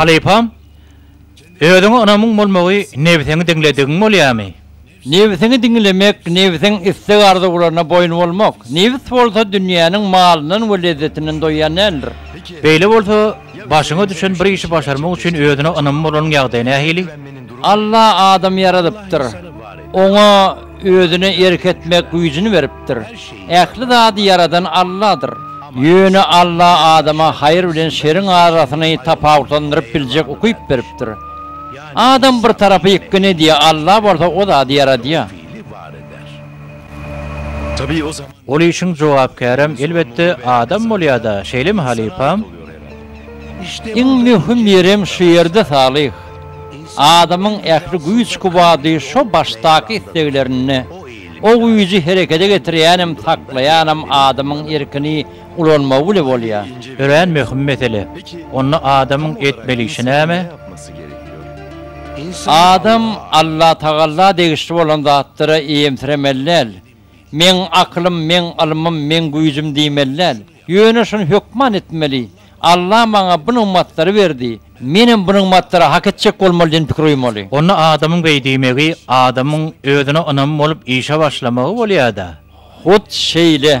Halypam, özüňe ynamyň bolmagy nebsiňi diňledigiň bolýamy? Nebsiňi diňlemek, nebsiň isleg-arzuwlaryna boýun bolmak. Nebs bolsa dünýäniň malyndan we lezzetinden doýýan däldir. Beýle bolsa, Başyňa düşen bir işi başarmak üçin özüne ynamy bolanyň ýagdaýy nähili? Alla adamy ýaradypdyr. Oňa özüne erk etmek güýjüni beripdir. Ähli zady ýaradan Alladyr. Ýöne Alla adama haýyr bilen şeriň arasyny tapawutlandyryp biljek ukyp beripdir. Adam bir tarapy ýykgyn edýär, Alla bolsa o zady ýaradýar. Ol işiň jogapkärem, elbetde, adam bolýar-da, şeýlemi, halypam? Iň möhüm ýerem şu ýerde, Salyh. Adamyň ähli güýç-kuwwady şo başdaky isleglerinde. O güýji herekede getirýänem, saklaýanam adamyň erkini ulanmagy bile bolýar. Örän möhüm mesele. Onda adamyň etmeli işi näme? Adam Allatagalla degişli bolan zatlara eýemsiremeli däl. Meň akylym, meň ylmym, meň güýjüm diýmeli däl. Ýöne şuny hökman etmeli, Alla maňa bu nygmatlary berdi, menem bu nygmatlary hak etjek bolmaly diýen pikir oýmaly. Onda adamyň beý diýmegi, adamyň özüne ynamy bolup işe başlamagy bolýar-da. Hut şeýle.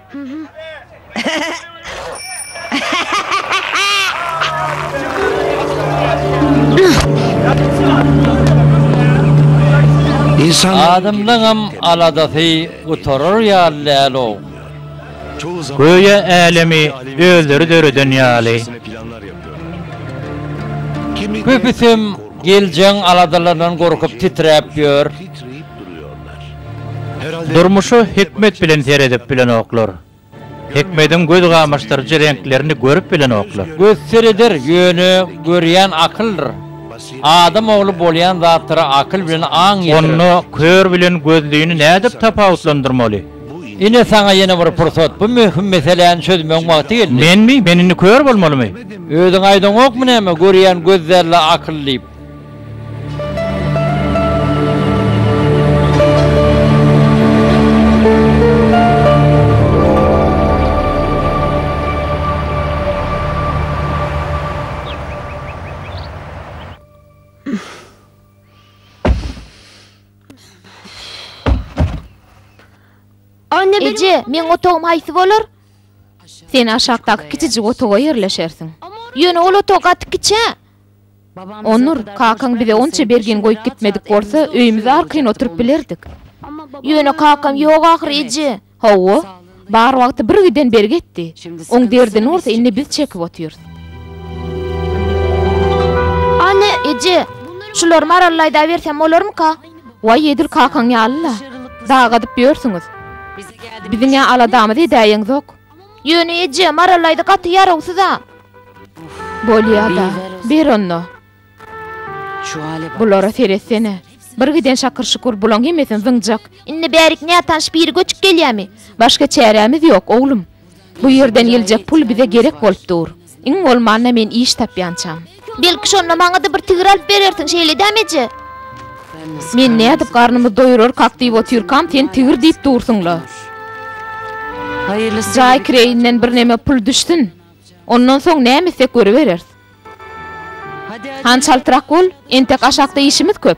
Adamlaňam aladasy gutarar ýaly däl-ow. Göýä älemi özleri döreden ýaly. Köpüsem geljegň aladalaryndan gorkup titräp ýör. Durmuşa hikmet bilen seredip bilenoklar. Hikmediň göz gamaşdyryjy reňklerini görüp bilenoklar. Göz sereder, ýöne görýän akyldyr. Adam ogly bolýan zatlara akyl bilen aň ýetirer. Onda kör bilen gözlini nädip tapawutlandyrmaly? Ine, saňa ýene bir pursat. Bu möhüm meseläni çözmegiň wagty geldi. Menmi? Men indi kör bolmalymy? Özüň aýdaňokmy näme, görýän göz däl-de, akyl diýip? Eje, meň otagym haýsy bolar? Sen aşakdaky kiçijik otaga ýerleşersiň. Ýöne ol otag gaty kiçä. Onur, kakaň bize onça bergin goýup gitmedik bolsa, öýümizde arkaýyn oturyp bilerdik. Ýöne kakam ýok ahyry, eje. Hawa. Bar wagty bir giden bir gitdi. Oň derdini bolsa indi biz çekip otyrys. Anne, eje, şulary marallaýdabersem bolarmyka? Waý, edil kakaň ýaly-la. Dag gazyp ýörsüňiz. Biziň-ä aladamyz edäýeňzok. Ýöne eje, Marallaýda gaty ýarawsyz-a. Bolýa-da, ber onda. Bulara seretsene. Bir giden şakyr-şukur, bulaň hemmesini zyňjak. Indi bärik nätanyş biri göçüp gelýärmi? Başga çärämiz ýok, oglum. Bu ýerden geljek pul bize gerek bolup dur. Iň bolmanda men iş tapýançam. Belki şonda maňa-da bir tigir alyp berersiň, şeýledämi eje? Men nädip garnymyzy doýurarkak diýip otyrkam, sen tigir diýip dursuň-la. Jaý kireýinden birneme pul düşsün. Ondan soň näme etsek görübereris. Han çaltrak bol, entek aşakda işimiz köp.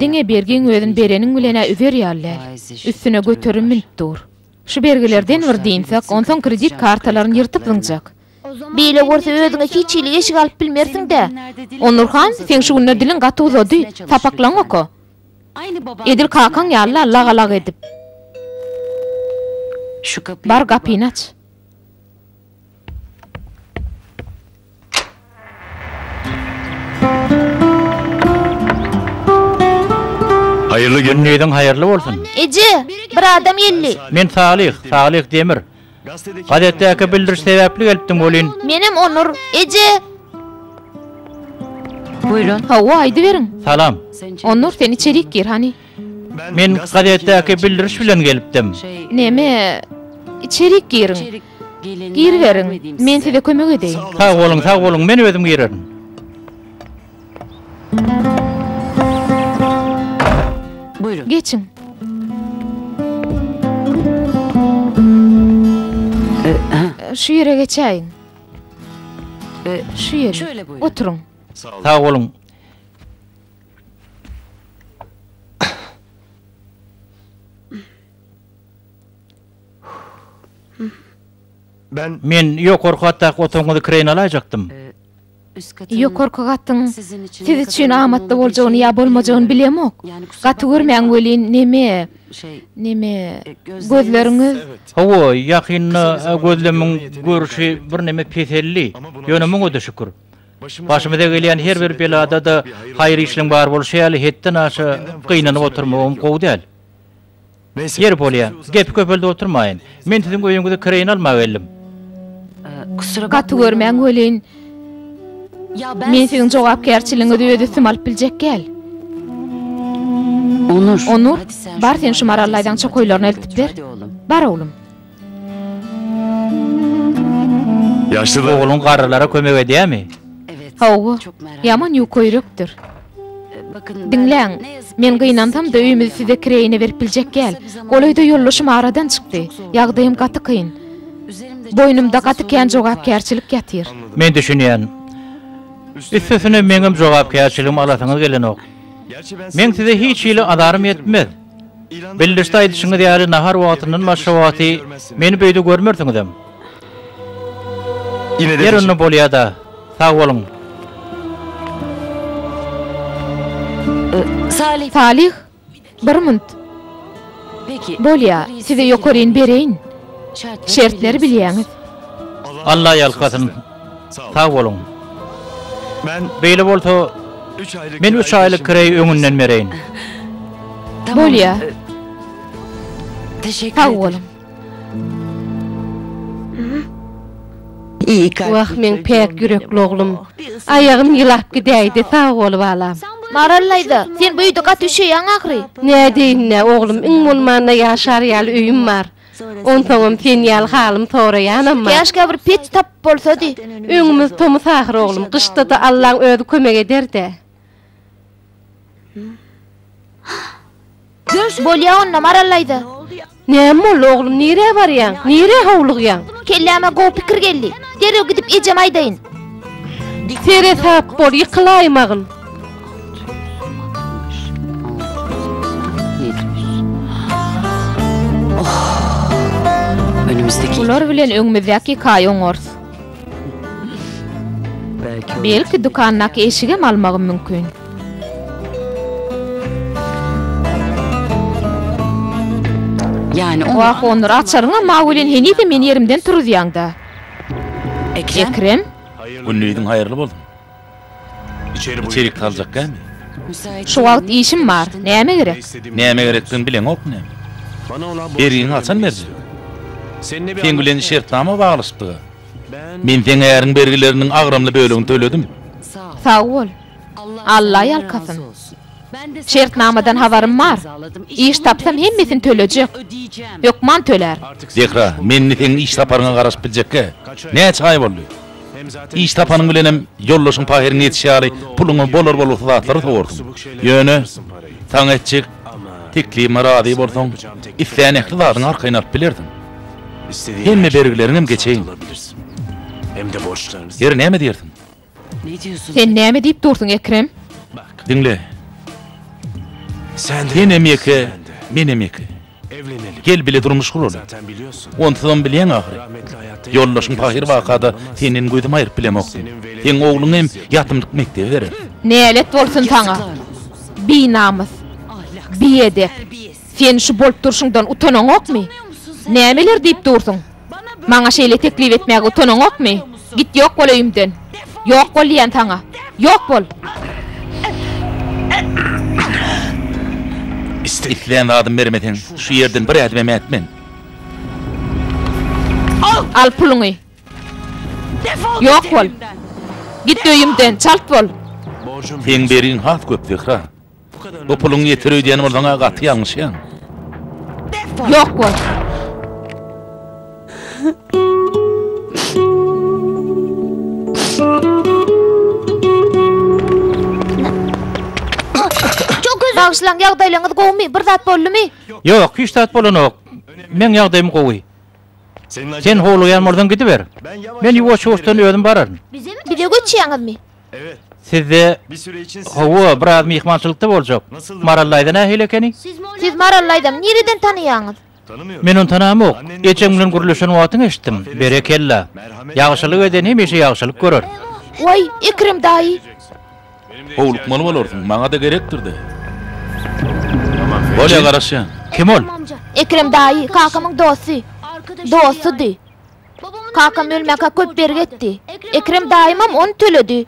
Diňe bergiň özün bereniň bilen-ä üzer ýaly däl. Üstüne göterim münüp dur. Şu bergilerden bir dynsek, onsoň kredit kartalaryny ýyrtyp zyňjak. Beýle bolsa özüňe hiç hili eşik alyp bilmersiň-dä. Onur han, seň şu günler diliň gaty uzady, sapaklaň oka. Edil kakaň ýaly-la lagalak edip. Bar gapyny aç. Haýyrly gün diýdiň haýyrly bolsun. Eje, bir adam geldi. Men Salyh, Salyh Demir. Gazetdäki bildiriş sebäpli gelipdim welin. Menem Onur. Eje! Buyurun. Hawa, aýdyberiň. Salam. Onur, sen içerik gir, hany. Men gazetdäki bildiriş bilen gelipdim. Näme? Içerik giriň. Giriberiň. Men size kömek edeýin. Sag boluň, sag boluň. Men özüm girerin. Geçiň. Şu ýere geçäýiň. Şu ýere. Oturyň. Sag boluň. Men ýokarky gatdaky otagyňyzy kireýine alaýjakdym. Ýokarky gatyň siz üçin amatly boljagyny ýa bolmajagyny bilemok. Gaty görmäň welin, neme, neme, gözleriňiz. Hawa, ýakynda gözlemiň görşi birneme peseldi. Ýöne muňa-da şükür. Başymyza gelýän her bir belada-da haýyr işiň bar bolşy ýaly, hetden aşa gynanyp oturmagam gowy däl. Ýeri bolýa, gepi köpeldip oturmaýyn. Men siziň öýüňizi kireýine almaga geldim. Gaty görmäň welin, men siziň jogapkärçiligiňizi öz üstüme alyp biljek gäl. Onur, bar sen şu marallaýzaň çokaýlaryny eltip ber. Bar, oglum. Yaşlı Ogluň garrylara kömek edýärmi? Hawa, ýaman ýukaýürekdir. Diňläň, men gynansam-da öýümizi size kireýine berip biljek gäl. Golaýda ýoldaşym aradan çykdy. Ýagdaýym gaty kyn. Boýnumda gaty kän jogapkärçilik ýatyr. Men düşünýän. Üstesine meňem jogapkärçiligimi alasyňyz gelenok. Men size hiç hili azarym ýetmez. Bildirişde aýdyşyňyz ýaly, nahar wagtyndan başga wagty meni bu öýde görmersiňizem. Ýeri onda bolýa-da. Sag boluň. Salih, bir munt. Bolýa, size ýokaryn bereýin. Şertleri bilýäňiz. Alla ýalkasyn. Sag boluň. Beýle bolsa, men üç aýlyk kireýi öňünden bereýin. Bolýa. Sag boluň. Wah, meň päk ýürekli oglum. Aýagym ýylap gidäýdi. Sag bol, balam. Maral daýza, sen bu öýde gaty üşeýäň ahyry. Nädeýin-dä, oglum, iň bolmanda ýaşar ýaly öýüm bar. Onsoňam sen ýaly halym soraýanam bar. Käşgä bir peç tapyp bolsady. Öňümiz tomus ahyr oglum, gyşda-da Allaň özi kömek eder-dä. Bolýa onda, Maral daýza. Näme boldy, oglum, nirä barýaň? Nirä howlugýaň? Kelläme gowy pikir geldi. Derrew gidip ejeme aýdaýyn. Seresap bol, ýykylaýmagyn. Bular bilen öňümizdäki hikaýa oňarys. Belki dükandaky eşigem almagym mümkin. Wah, onur açaryňam mawy bilen henize meni ýerimden turuzýaňda. Ekrem? Gündiziň haýyrly bolsun. Içerik saljak gämi? Şu wagt işim bar. Näme gerek? Näme gerekdigini bileňokmy näme? Ergiňi haçan berjek? Seň bilen şertnama baglaşypdyga. Men seň äriň bergileriniň agramly bölegini töledim. Sag bol. Alla ýalkasyn. Şertnamadan habarym bar. Iş tapsam hemmesini tölejek. Hökman tölärin. Zehra, men indi seň iş taparyňa garaşyp biljekkä? Näçe aý boldy? Iş tapanyň bilenem ýoldaşyň pahyryňa ýetiş ýaly puluňa bolar-bolgusyz zatlary sowarsyň. Ýöne, saňa etjek teklibime razy bolsaň, islän ähli zadyňy arkaýyn alyp bilersiň. Hemme bergileriňem geçeýin. Her näme diýersiň? Sen näme diýip dursuň, Ekrem? Diňle. Senem ýeke, menem ýeke. Evlenelim. Gel bile durmuş guraly. Zaten biliyorsun. Onsuzam bilýäň ahyry. Rahmetli hayatta ýatyp Ýoldaşyň görmüşim pahyr yok. wakada senden gözümi aýryp bilemokdym. Seniň weledyň Seň ogluň hem beýleki. ýatymlyk mekdebe berer. Nälet bolsun saňa, binamys, biedep! Sen şu bolup durşuňdan utanaňokmy? Nämeler diýip dursuň? Maňa şeýle teklip etmäge utanaňokmy? Git ýok bol öýümden! Ýok bol diýýän saňa! Ýok bol! Islän zadymy bermeseň, şu ýerden bir ädimem ätmen! Al puluňy! Ýok bol! Git öýümden! Çalt bol! Seň bergiň has köp, Zehra! Bu puluň ýeter öýdýän bolsaň-a gaty ýalňyşýaň. Ýok bol. Bagşylaň ýagdaýlaryňyz gowumy? Bir zat boldumy? Ýok, hiç zat bolanok. Meň ýagdaýym gowy. Sen howlugýan bolsaň gidiber. Men ýuwaş-ýuwaşdan özüm bararyn. Bize göçýäňizmi? Sizde Hawa, biraz myhmançylykda boljak. Maral daýza nähili ekeni? Siz Maral daýzany nireden tanaýaňyz? Men ony tanamok. Ejem bilen gürleşen wagtyň eşitdim. Berekella. Ýagşylyk eden hemişe ýagşylyk görer. Waý, Ekrem daýy! Howlukmaly bolarsyň, maňa-da gerekdir-dä. Bolýar, garaşýan. Kim ol? Ekrem daýy, kakamyň dosty. Dostudy. Kakam ölmäkä köp bergi etdi. Ekrem daýymam ony töledi.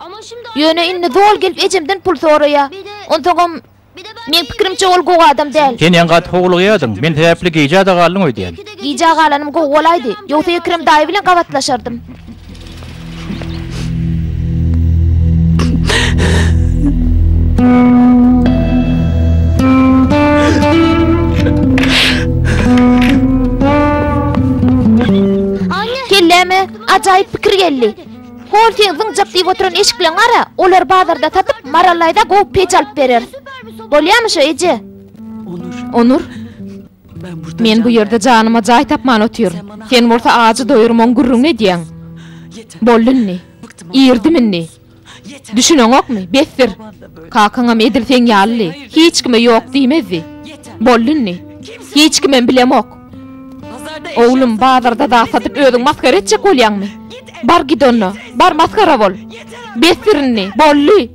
Ýöne indi zol gelip ejemden pul soraýar. Onsoňam, meň pikirimçe, ol gowy adam däl. Sen ýaňy gaty howlugýardyň. Men sebäpli gijä-de galdyň öýdýän. Gijä galanym gowy bolaýdy. Ýogsa Ekrem daýy bilen gabatlaşardym. Kelläme ajaýyp pikir geldi. Hol sen zyňjak diýip oturan eşikleň gara, olar bazarda satyp, Marallaýda gowy peç alyp bereris. Bolýamy şo eje? Onur. Men bu ýerde janyma jaý tapman otyryn. Sen bolsa ajy doýurmagyň gürrüňini edýäň. Boldy indi. Irdim indi. Düşüneňokmy? Besdir! Kakaňam edil seň ýalydy. Hiç kime ýok diýmezdi. Boldy indi. Hiç kimem bilemok. Oglum, bazarda zat satyp özüň masgara etjek bolýaňmy? Bar git onda. Bar masgara bol. Besdir indi. Boldy!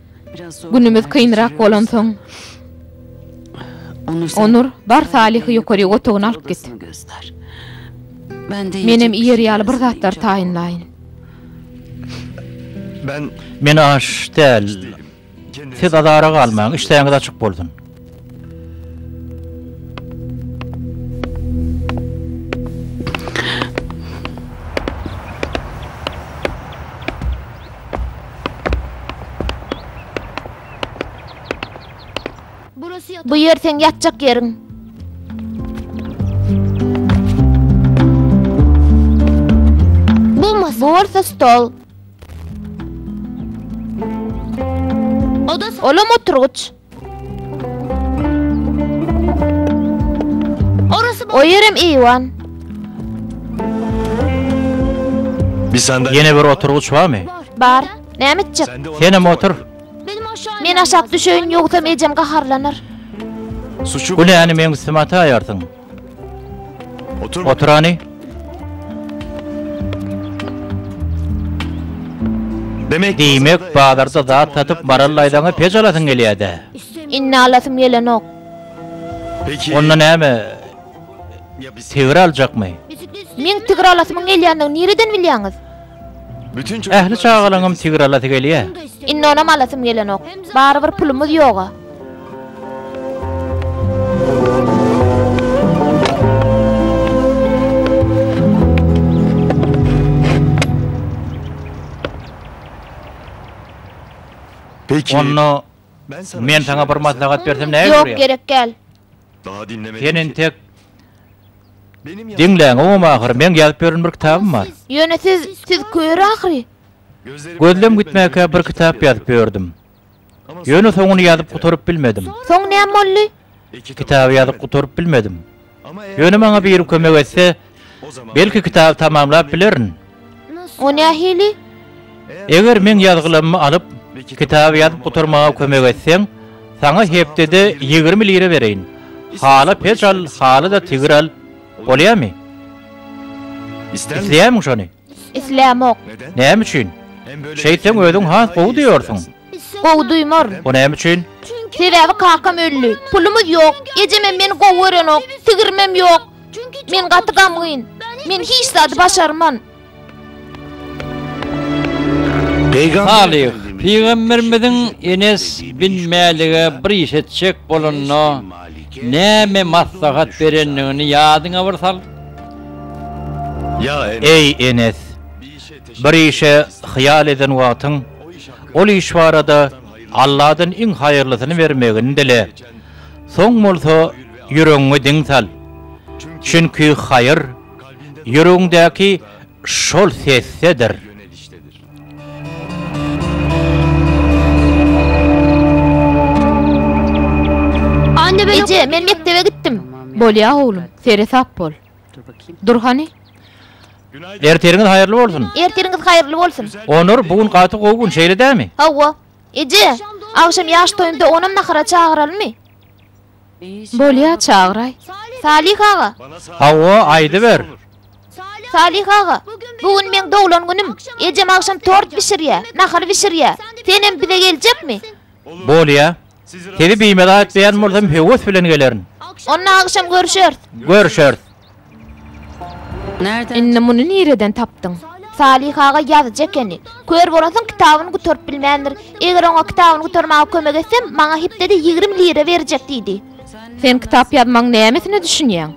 Günümiz kynrak bolansoň, Onur, bar Salyhy ýokaryk otagyna alyp git. Menem iýer ýaly bir zatlar taýynlaýyn. Men aç däl. Siz azara galmaň, işdäňiz açyk bolsun. Bu ýer seň ýatjak ýeriň. Bu masa. Bu bolsa stol. Olam oturgyç. O ýerem eýwan. Ýene bir oturgyç barmy? Bar. Näme etjek? Senem otur. Men aşak düşeýin, ýogsam ejem gaharlanar. Bu näni meň üstüme ataýarsyň? Otur hany. Diýmek, bazarda zat satyp barallaýsaň-a peç alasyň gelýär-dä? Indi alasym gelenok. Onda näme, tigir aljakmy? Meň tigir alasymyň gelýändigini nireden bilýäňiz? Ähli çagalaňam tigir alasy gelýä. Indi onam alasym gelenok. Barybir pulumyz ýog-a. Onda men saňa bir maslahat bersem nähili bolar? Ýok, gerek däl. Sen entek Diňläň, oňam ahyry, meň ýazyp ýören bir kitabym bar. Ýöne siz, siz kör ahyry. Gözlem gitmäkä bir kitap ýazyp ýördüm. Ýöne soňuny ýazyp gutaryp bilmedim. Soň näme boldy? Kitaby ýazyp gutaryp bilmedim. Ýöne maňa biri kömek etse, Belki kitaby tamamlap bilerin. O nähili? Eger meň ýazgylamymy alyp, kitaby ýazyp gutarmaga kömek etseň, saňa hepdede ýigrimi lira bereýin. Hala peç al, hala-da tigir al. Bolýamy? Isleýärmiň şony? Islämok. Näme üçin? Şeýtseň özüň has gowy duýarsyň. Gowy duýmar. O näme üçin? Sebäbi kakam öldi. Pulumyz ýok. Ejemem meni gowy görenok. Sigirimem ýok. Men gaty gamgyn. Men hiç zady başarman. Salyh, pygamberimiziň Enes bin Mälige bir iş etjek bolanyna Näme maslahat berendigini ýadyňa bir sal. Eý, Enes! Bir işe hyýal eden wagtyň, ol iş barada Alladan iň haýyrlysyny bermegini dile. Soň bolsa ýüregiňi diň sal. Çünki haýyr, ýüregiňdäki şol sesdedir. Eje, men mekdebe gitdim. Bolýa, oglum, seresap bol. Dur hany. Ertiriňiz haýyrly bolsun. Ertiriňiz haýyrly bolsun. Onur, bu gün gaty gowy gün, şeýle dämi? Hawa. Eje, agşam ýaş toýunda onam nahara çagyralmy? Bolýa, çagyraý. Salyh aga! Hawa, aýdyber. Salyh aga, bu gün meň doglan günüm. Ejem agşam tort bişirýär, nahar bişirýär. Senem bize geljekmi? Bolýa. Sizi bimaza etmeýän bolsam, höwes bilen gelerin. Onda agşam görüşeris. Görüşeris. Indi muny nireden tapdyň? Salyh aga ýazyjy ekeni. Kör bolansoň kitabyny gutaryp bilmändir. Eger oňa kitabyny gutarmaga kömek etsem, maňa hepdede ýigrimi lira berjek diýdi. Sen kitap ýazmagyň nämesine düşünýäň?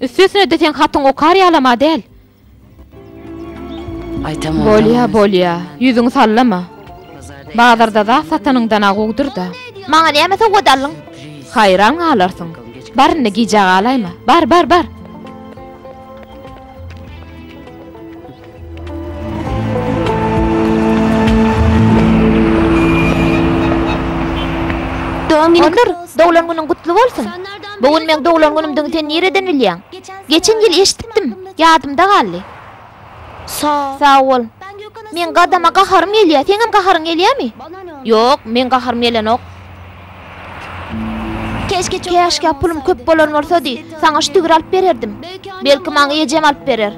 Üstesine-de sen hatyň okar ýalam-a däl. Bolýa, bolýa, ýüzüňi sallama. Bazarda zat satanyňdan agowdyr-da. Maňa näme sowgat aldyň? Haýran galarsyň. Bar indi gijä galaýma. Bar, bar, bar! Otur, doglan günüň gutly bolsun. Bu gün meň doglan günümdigini sen nireden bilýäň? Geçen ýyl eşitdim. Ýadymda galdy. Sa. Sag bol. Meň gadama gaharym gelýär. Seňem gaharyň gelýärmi? Ýok, meň gaharym gelenok. Käşgä pulum köp bolan bolsady, saňa ştigir alyp bererdim. Belki, maňa ejem alyp berer.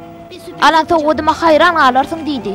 Alan sowgadyma haýran galarsyň, diýdi.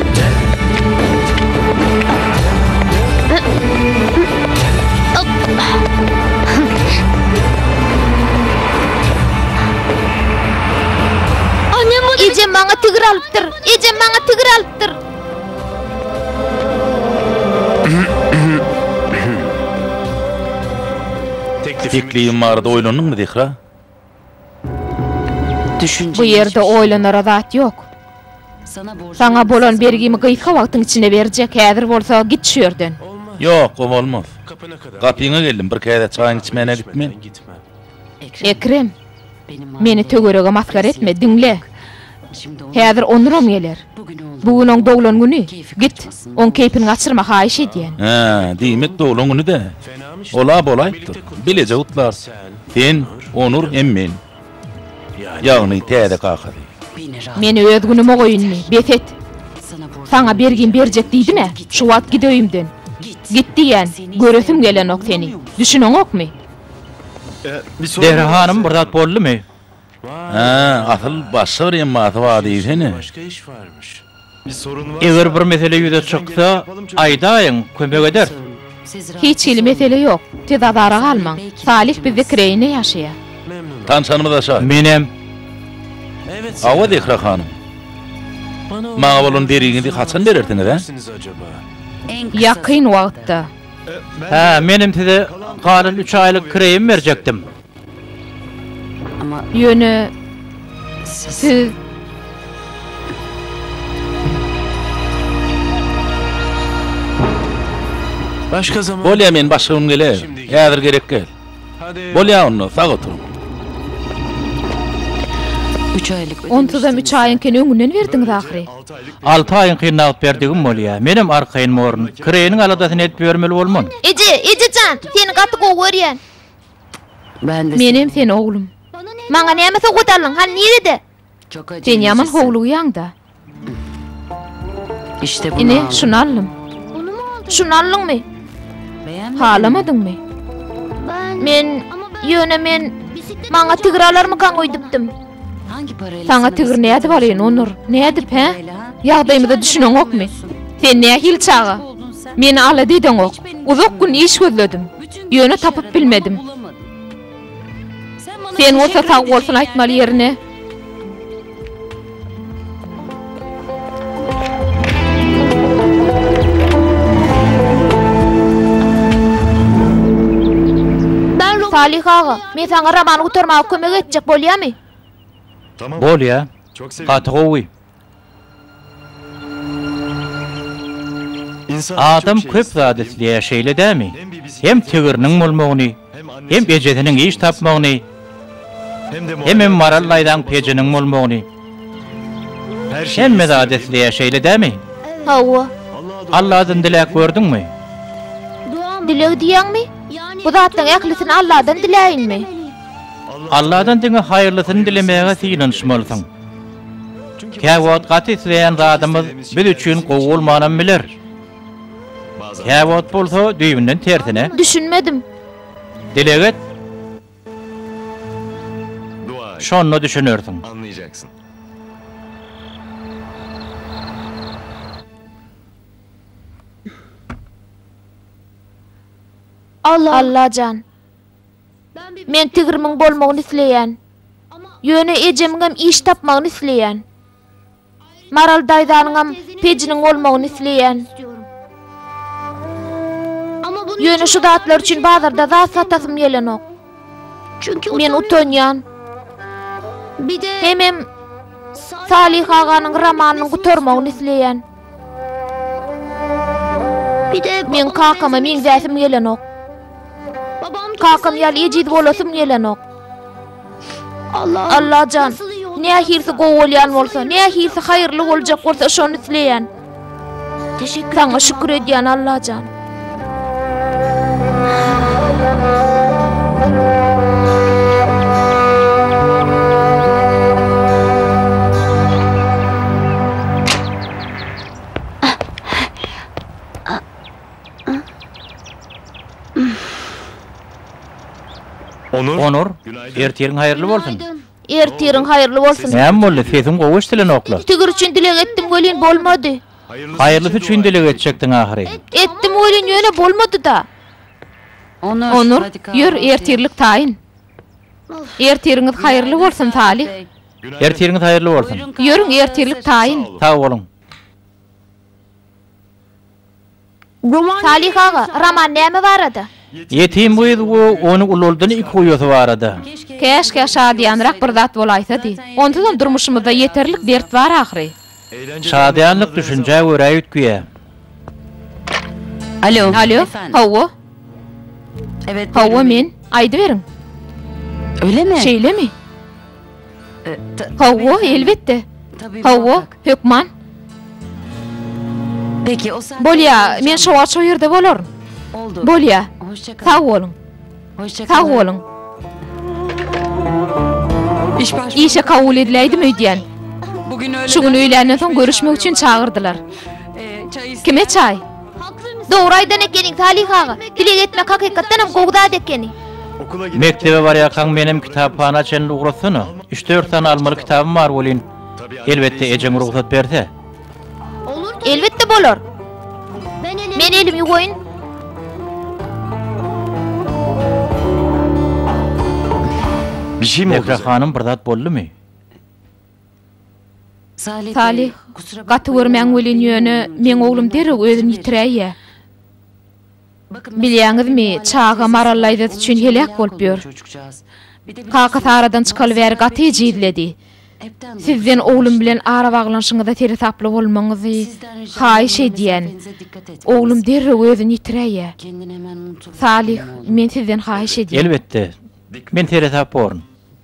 Ejem maňa tigir alypdyr. Ejem maňa tigir alypdyr. Teklibim barada oýlandyňmy, Zehra? Bu ýerde oýlanara zat ýok. Saňa bolan bergimi gysga wagtyň içinde berjek, häzir bolsa git şu ýerden. Ýok, o bolmaz. Gapyňa geldim, bir käse çaýyňy içmäne gitme. Ekrem, meni töwerege masgara etme, diňle. Häzir onuram geler. Bu gün oň doglan güni. Git, oň keýpini gaçyrma, haýyş edýän. Hä, diýmek doglan güni-dä. Ol-a bolaýypdyr. Bileje gutlar. Sen, Onur hem men. Ýagny täze kakasy. Men öz günüme goýundy. Bes et. Saňa bergim berjek diýdim-ä. Şu wagt git öýümden. Git diýýän. Göresim gelenok seni. Düşüneňokmy? Zehra hanym, bir zat boldumy? Hä, asyl başga bir emmasy bar diýsene. Eger bir mesele ýüze çyksa, aýdaýyň, kömek ederis. Hiç hili mesele ýok. Siz azara galmaň. Salih bizde kireýinde ýaşaýar. Tanşanymyz aşa. Menem. Hawa, Zehra hanym. Maňa bolan bergiňizi haçan berersiňiz, hä? Ýakyn wagtda. Hä, menem size galan üç aýlyk kireýimi berjekdim. Ýöne siz Başga zaman Bolýa men başga gün gelerin. Häzir gerek gel. Bolýa onda sag oturyň. Üç aýlyk Onsuzam üç aýyňkyny öňünden berdiňiz ahyry. Alty aýyňky nagt berdigim bolýa. Menem arkaýyn borun. Kireýiniň aladasyny edip ýörmeli bolman. Eje, ejejan, seni gaty gowy görýän. Menem sen oglum. Maňa näme sowgat aldyň, hany nirede? Sen ýaman howlugýaň-da. Ine, şuny aldym. Şuny aldyňmy? Halamadyňmy? Men, ýöne men maňa tigir alarmykaň öýdüpdim. Saňa tigir nädip alyn, Onur? Nädip, hä? Ýagdaýymyza düşüneňokmy? Sen nähili çaga? Meni alada edeňok. Uzak gün iş gözledim. Ýöne tapyp bilmedim. Sen bolsa sag bolsun aýtmaly ýerine. Salyh aga, men saňa romany gutarmaga kömek etjek, bolýamy? Bolýa. Gaty gowy. Adam köp zat isleýär, şeýle dämi? Hem tigiriniň bolmagyny, Hem ejesiniň iş tapmagyny, hemem Maral daýzaň pejiniň bolmagyny. Hemme zat isleýär, şeýle dämi? Hawa. Alladan diläp gördüňmi? Dileg diýýäňmi? Bu zatlaryň ählisini Alladan diläýinmi? Alladan diňe haýyrlysyny dilemäge synanyşmalysyň. Käwagt gaty isleýän zadymyz biz üçin gowy bolmanam biler. Käwagt bolsa düýbünden tersine. Düşünmedim. Dileg et. Şonda düşünersiň. Alla. Allajan. Men tigrimiň bolmagyny isleýän. Ýöne ejemiňem iş tapmagyny isleýän. Maral daýzanyňam pejiniň bolmagyny isleýän. Ýöne şu zatlar üçin bazarda zat satasym gelenok. Men utanýan. Hemem Salyh aganyň romanynyň gutarmagyny isleýän. Pide men kakama meňzäsim gelenok. Kakam ýaly ejiz bolasym gelenok. Allah Allah jan. Nähirsi gowy bolýan bolsa, nähirsi haýyrly boljak bolsa şony isleýän. Teşekkür. Saňa şükür edýän Allah jan. Onur, ertiriň haýyrly bolsun! Ertiriň haýyrly bolsun! Näme boldy, sesiň gowy eşdilenokla? Sigir üçin dileg etdim welin bolmady. Haýyrlysy üçin dileg etjekdiň ahyry. Etdim welin ýöne bolmady-da. Onur, ýör, ertirlik taýyn. Ertiriňiz haýyrly bolsun, Talyh. Ertiriňiz haýyrly bolsun. Ýörüň, ertirlik taýyn. Sag boluň. Salyh aga, roman näme barada? Ýetim gyz we ony ulaldan iki uýasy barada. Käşgä şadyýanrak bir zat bolaýsa diý. Onsuzam durmuşymyzda ýeterlik dert bar ahyry. Şadyýanlyk düşünjä görä üýtgeýä. Alo. Alo. Hawa. Hawa, men. Aýdyberiň. Öylemi? Şeýlemi? Hawa, elbetde. Hawa, hökman. Bolýar, men şo wagt şo ýerde bolaryn. Bolýar. Sag boluň. Sag boluň. Işe kabul ediläýdim öýdýän. Şu gün öýländen soň görüşmek üçin çagyrdylar. Kime çaý? Dogry aýdan ekeniň Salyh aga, dileg etmek hakykatdanam gowy zat ekeni. Mekdebe barýarkaň menem kitaphana çenli ugratsana, üç-dört sany almaly kitabym bar welin, elbetde ejeň rugsat berse. Elbetde bolar. Men elimi ýuwaýyn. Mähri hanym bir zat boldumy? Salyh, Gaty görmäň welin, ýöne meň oglum derrew özüni ýitiräýýä. Bilýäňizmi, çaga maral laýzasy üçin heläk bolup ýör. Kakasy aradan çykaly bäri gaty ejizledi. Sizden oglum bilen arabaglanyşyňyza seresaply bolmagyňyzy haýyş edýän. Oglum derrew özüni ýitiräýýä. Salyh, men sizden haýyş edýän. Elbetde, men seresap borun.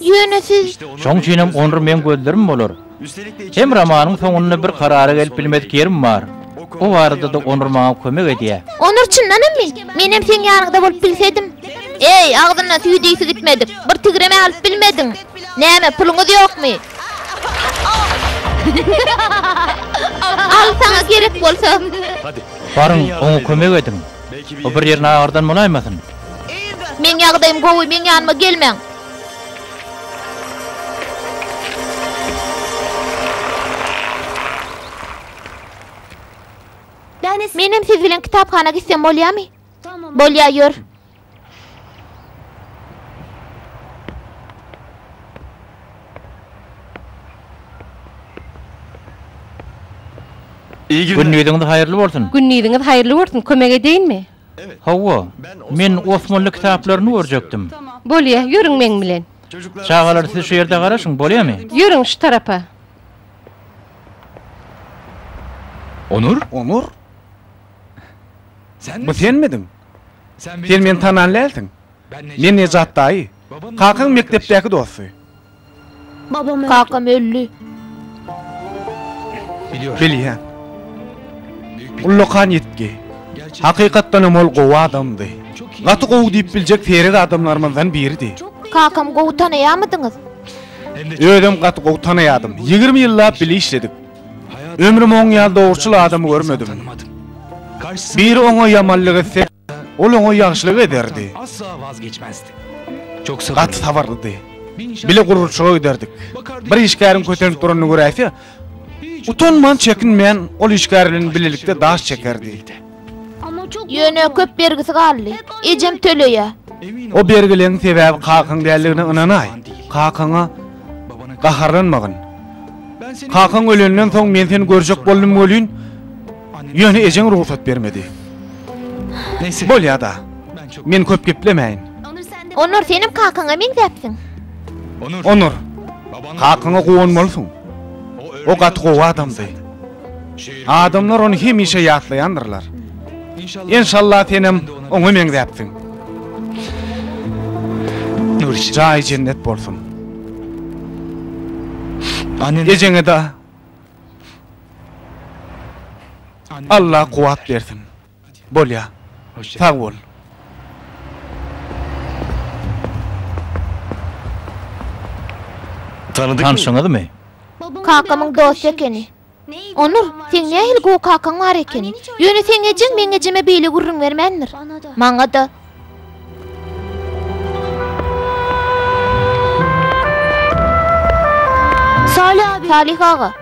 Ýöne siz. Şoň üçinem onr meň gözlerim bolar. Hem romanyň soňunda bir karara gelip bilmedik ýerim bar. O barada-da onr maňa kömek edýär. Onr çyndanammy? Menem seň ýanyňda bolup bilsedim. Eý, agzyna süýi diýsi gitmedik, bir tigrem-ä alyp bilmediň. Näme, puluňyz ýokmy? Al, saňa gerek bolsa. Baryň, oňa kömek ediň. O bir ýerini agyrdan bolaýmasyn? Meň ýagdaýym gowy, meň ýanyma gelmäň! Menem siz bilen kitaphana gitsem bolýamy? Bolýar, ýör. Gündiziňiz haýyrly bolsun! Gündiziňiz haýyrly bolsun! Kömek edeýinmi? Hawa, men Osmanly kitaplaryny görjekdim. Bolýa, ýörüň meň bilen. Çagalar siz şu ýerde garaşyň, bolýamy? Ýörüň şu tarapa. Onur? Onur? Bu senmidiň? Sen meni tanan dälsiň. Men Nejat daýy. Kakaň mekdepdäki dosty. Kakam öldi. Bilýän. Ullakan ýitgi. Hakykatdanam ol gowy adamdy. Gaty gowy diýip biljek seýrek adamlarymyzdan biridi. Kakamy gowy tanaýarmydyňyz? Özem gaty gowy tanaýardym. Ýigrimi ýyllap bile işledik. Ömrüm oň ýaly dogruçyl adamy görmedim. Biri oňa ýamanlyk etse. Ol oňa ýagşylyk ederdi. Gaty sabyrlydy. Bile gurluşyga giderdik. Bir işgäriň kösenip duranyny göräýse, utanman, çekinmän ol işgär bilen bilelikde daş çekerdi. Ýöne köp bergisi galdy. Ejem töleýär. O bergileriň sebäbi kakaň däldigine ynanaý. Kakaňa gaharlanmagyn. Kakaň ölenden soň men seni görjek boldum welin, Ýöne ejeň rugsat bermedi. Bolýa-da. Men köp geplemäýin. Onur, senem kakaňa meňzäpsiň. Onur, kakaňa guwanmalysyň. O gaty gowy adamdy. Adamlar ony hemişe ýatlaýandyrlar. Enşalla senem oňa meňzäpsiň. Jaýy jennet bolsun. Ejeňe-de Allah kuwat bersin. Bolýa. Sag bol. Tanşyňyzmy? Kakamyň dosty ekeni. Onur, seň nähili gowy kakaň bar ekeni. Ýöne seň ejeň meň ejeme beýle gürrüň bermändir. Maňa-da. Salyh aga.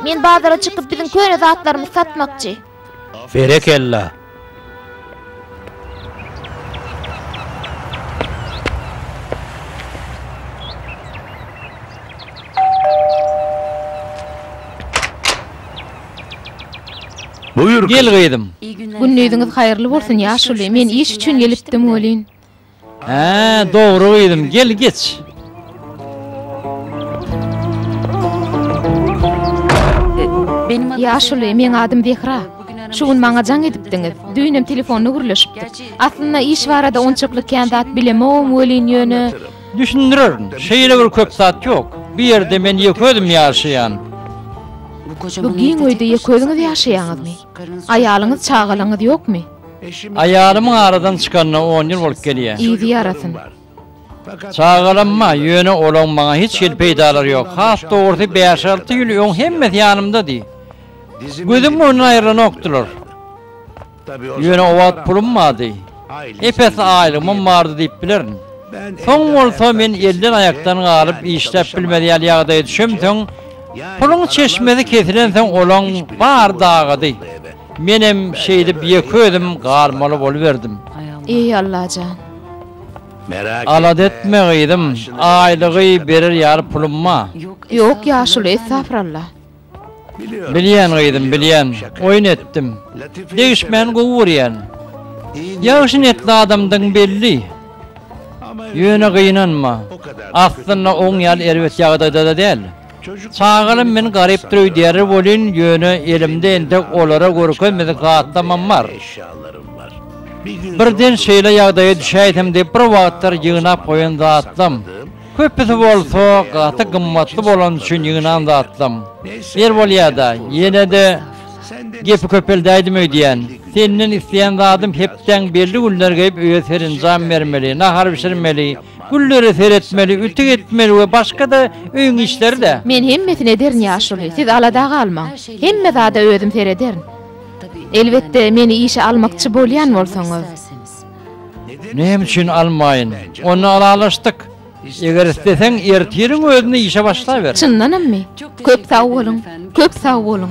Men bazara çykyp biziň köne zatlarymyzy satmakçy. Berekella. Gel gyzym. Gündiziňiz haýyrly bolsun ýaşuly, men iş üçin gelipdim welin. Hä, dogry gyzym, gel geç. Ýaşuly, meň adym Zehra. Şu gün maňa jaň edipdiňiz. Düýnem telefonda gürleşipdik. Aslynda iş barada onçakly kän zat bilemogom welin ýöne. Düşündirerin. Şeýle bir köp zat ýok. Bu ýerde men ýeke özüm ýaşaýan. Bu giň öýde ýeke özüňiz ýaşaýaňyzmy? Aýalyňyz, çagalaryňyz ýokmy? Aýalymyň aradan çykanyna on ýyl bolup gelýär. Yzy ýarasyn. Çagalarymma, ýöne olaň maňa hiç hili peýdalary ýok. Has dogrusy, bäş-alty ýyl öň hemmesi ýanymdady. Gözüm öňünden aýrylanokdylar. Ýöne o wagt pulum bardy. Ep-esli aýlygymam bardy diýip bilerin. Soň bolsa men elden-aýakdan galyp işläp bilmez ýaly ýagdaýa düşemsoň, puluň çeşmesi kesilensoň olaň bary dagady. Menem şeýdip ýeke özüm galmaly boluberdim. Eý Allajan! Alada etme gyzym, aýlygy berer ýaly pulum bar. Ýok ýaşuly estafralla. Bilýän gyzym bilýän oýun etdim degişmän gowy görýän ýagşy netli adamdygyň belli ýöne gynanma aslynda oň ýaly erbet ýagdaýdada däl çagalam men garypdyr öýdýärler welin ýöne elimde entek olara görkezmedik zatlamam bar birden şeýle ýagdaýa düşäýsem diýip bir wagtlar ýygnap goýan zatlam Köpüsi bolsa gaty gymmatly bolany üçin ýygnan zatlam. Bir bolýa-da, ýene-de gepi köpeldäýdim öýdýän. Senden isleýän zadym hepdäň belli günleri gelip öýe serenjam bermeli, nahar bişirmeli, güllere seretmeli, ütük etmeli we başga-da öýüň işleri-dä. Men hemmesini ederin ýaşuly, siz alada galmaň. Hemme zada özüm serederin. Elbetde, meni işe almakçy bolýan bolsaňyz. Näme üçin almaýyn? Onda ylalaşdyk. Eger isleseň, ertiriň özüne işe başlaber. Çyndanammy? Köp sag boluň, köp sag boluň.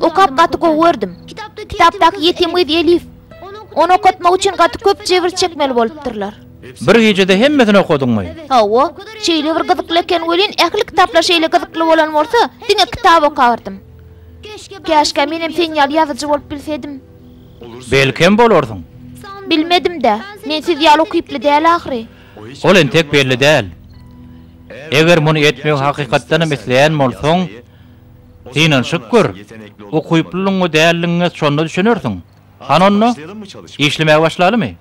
Okap gaty gowy gördüm. Kitapdaky ýetim gyz Elif. Ony okatmak üçin gaty köp jebir çekmeli bolupdyrlar. Bir gijede hemmesini okadyňmy? Hawa, şeýle bir gyzykly eken welin ähli kitaplar şeýle gyzykly bolan bolsa diňe kitap okardym. Käşgä menem sen ýaly ýazyjy bolup bilsedim. Belkem bolarsyň. Bilmedimdä. Men siz ýaly ukyply däl ahyry. Ol entek belli däl. Eger muny etmegi hakykatdanam isleýän bolsaň, Synanyşyp gör, ukyplylygyňy däldigiňe şonda düşünersiň. Hany onda, işlemäge başlalymy?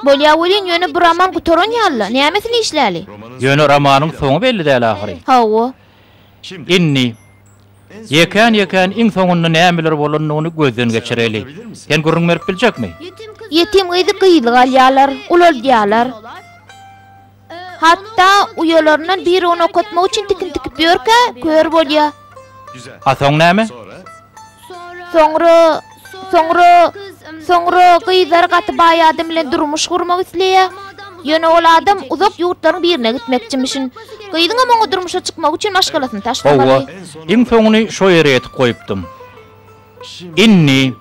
Bolýar welin, ýöne bu roman gutaran ýaly-la, nämesini işläli? Ýöne romanyň soňy belli däl ahyry. Hawa. Indi, ýekän-ýekän iň soňunda nämeler bolandygyny gözden geçireli. Sen gürrüň berip biljekmi? Ýetim gyzy gyzly galýarlar, ulaldýarlar. Hatda uýalaryndan biri ony okatmak üçin tikin tikip ýörkä, kör bolýar. A soň näme? Soňra, soňra, soňra gyzlar gaty baý adam bilen durmuş gurmak isleýär. Ýöne ol adam uzak ýurtlaryň birine gitmekçimişin. Gyzyňam oňa durmuşa çykmak üçin maşgalasyny taşlamaly. Hawa, iň soňuny şo ýere ýetip goýupdym. Indi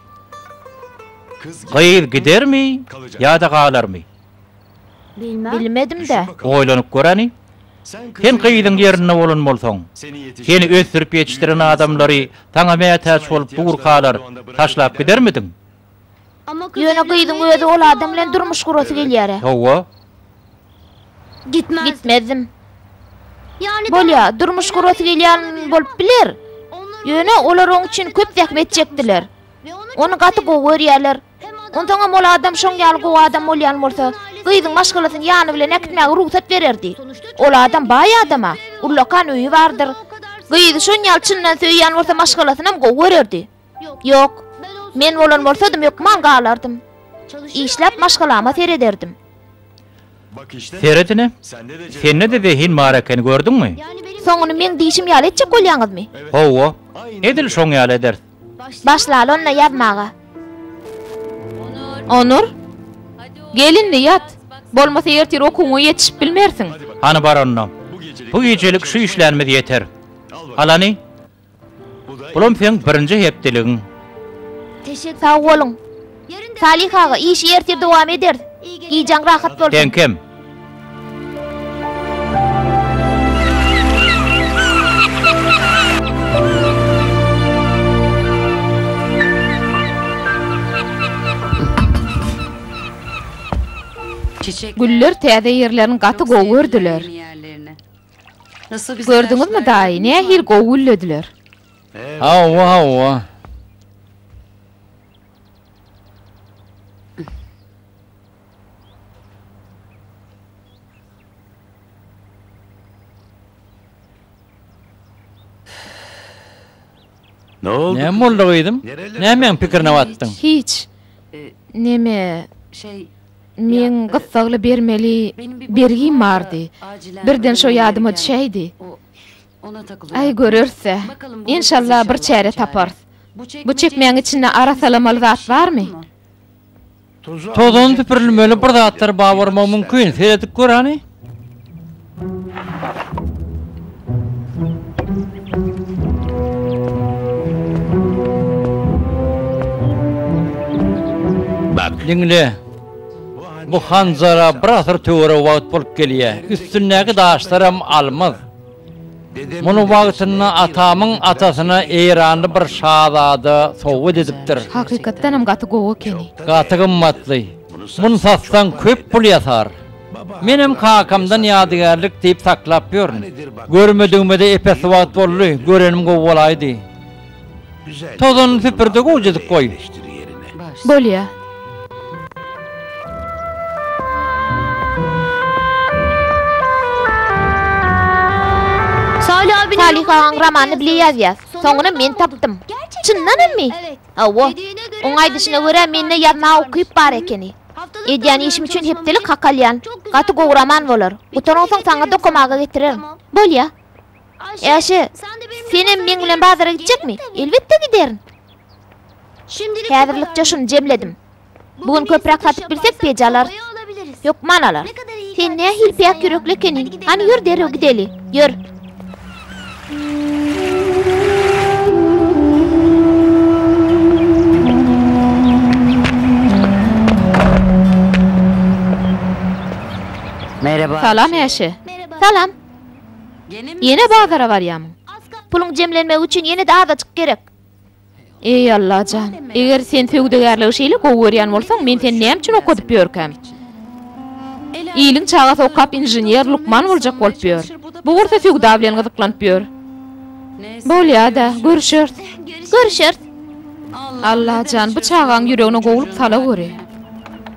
gyz gidermi ýa-da galarmy? Bilmedim-dä. Oýlanyp göräni. Sen gyzyň ýerinde bolan bolsaň, seni ösdürip ýetişdiren adamlary saňa mätäç bolup bu gurkalar taşlap gidermidiň? Ýöne gyzyň özi ol adam bilen durmuş gurasy gelýär-ä. Hawa. Gitmezdim. Bolýa, durmuş gurasy gelýän bolup biler. Ýöne olar oň üçin köp zähmet çekdiler. Ony gaty gowy görýärler. Onsoňam ol adam şoň ýaly gowy adam bolýan bolsa, gyzyň maşgalasyny ýany bilen äkitmäge rugsat bererdi. Ol adam baý adam-a, ullakan öýi bardyr. Gyzy şon ýaly çyndan söýýän bolsa maşgalasynam gowy görerdi. Ýok, men bolan bolsadym hökman galardym. Işläp maşgalama serederdim. Seredine, sende-de zehin bar ekeni gördüňmi? Soňuny meň diýşim ýaly etjek bolýaňyzmy? Hawa, edil şoň ýaly ederis. Başlaly onda ýazmaga. Onur. Gel indi ýat. Bolmasa ertir okuwyňa ýetişip bilmersiň. Hany bar onda. Bu gijelik şu işlänimiz ýeter. Al hany. Bulam seň birinji hepdeligiň. Sag boluň. Salih aga işi erte dowam eders. Gijaň rahat bolsun. Tenkem. Güller täze ýerlerini gaty gowy gördüler. Gördüňizmi daýy nähili gowy güllediler. Hawa hawa. Ne oldu? Näme boldy gyzym? Nämäň pikirine batdyň? Hiç. Neme? Şey, men gyssagly bermeli bergim bardy. Birden şo ýadyma düşäýdi. Aý göreris-ä. Enşalla bir çäre taparys. Bu çekmäň içinde arasalamaly zat barmy? Tozan süpürilmeli bir zatlar bar bolmagy mümkin. Seredip gör hany. Diňle. Bu hanjara bir asyr töweregi wagt bolup gelýär. Üstündäki daşlaram almaz. Muny wagtynda atamyň atasyna eýranly bir şazada sowgat edipdir. Hakykatdanam gaty gowy ekeni. Gaty gymmatly. Muny satsaň köp pul ýasar. Menem kakamdan ýadygärlik diýip saklap ýörün. Görmedigime-de epesli wagt boldy. Görenim gowy bolaýdy. Tozanyny süpürde gowjajyk goý. Bolýa. Salih agaň romanyny bile ýazýas. Soňuna men tapdym. Çyndan mi? Hawa. Oň aýdyşyna görä mende ýazma ukyp bar ekeni. Edýän işim üçin hepdelik hak alýan. Gaty gowy roman bolar. Gutaransoň saňa dokamaga getirerin. Bolýa. Äşe, senem meň bilen bazara gitjekmi? Elbetde giderin. Häzirlikçe şuny jemledim. Bu gün köpräk satyp bilsek peýje alarys. Hökman alarys. Sen nähili päk ýürekli ekeniň. Hany ýör derrew gideli. Ýör. Salam Äşe. Salam. Ýene bazara barýarmyň? Puluň jemlenmegi üçin ýene-de azajyk gerek. Eý, Alla jan, eger sen söwdagärligi şeýle gowy görýän bolsaň, men seni näme üçin okadyp ýörkäm? Iliň çagasy okap inžener, lukman boljak bolup ýör. Bu bolsa söwda bilen gyzyklanyp ýör. Bolýa-da, görüşeris. Görüşeris. Alla jan, bu çagaň ýüregine gowulyk sala göri.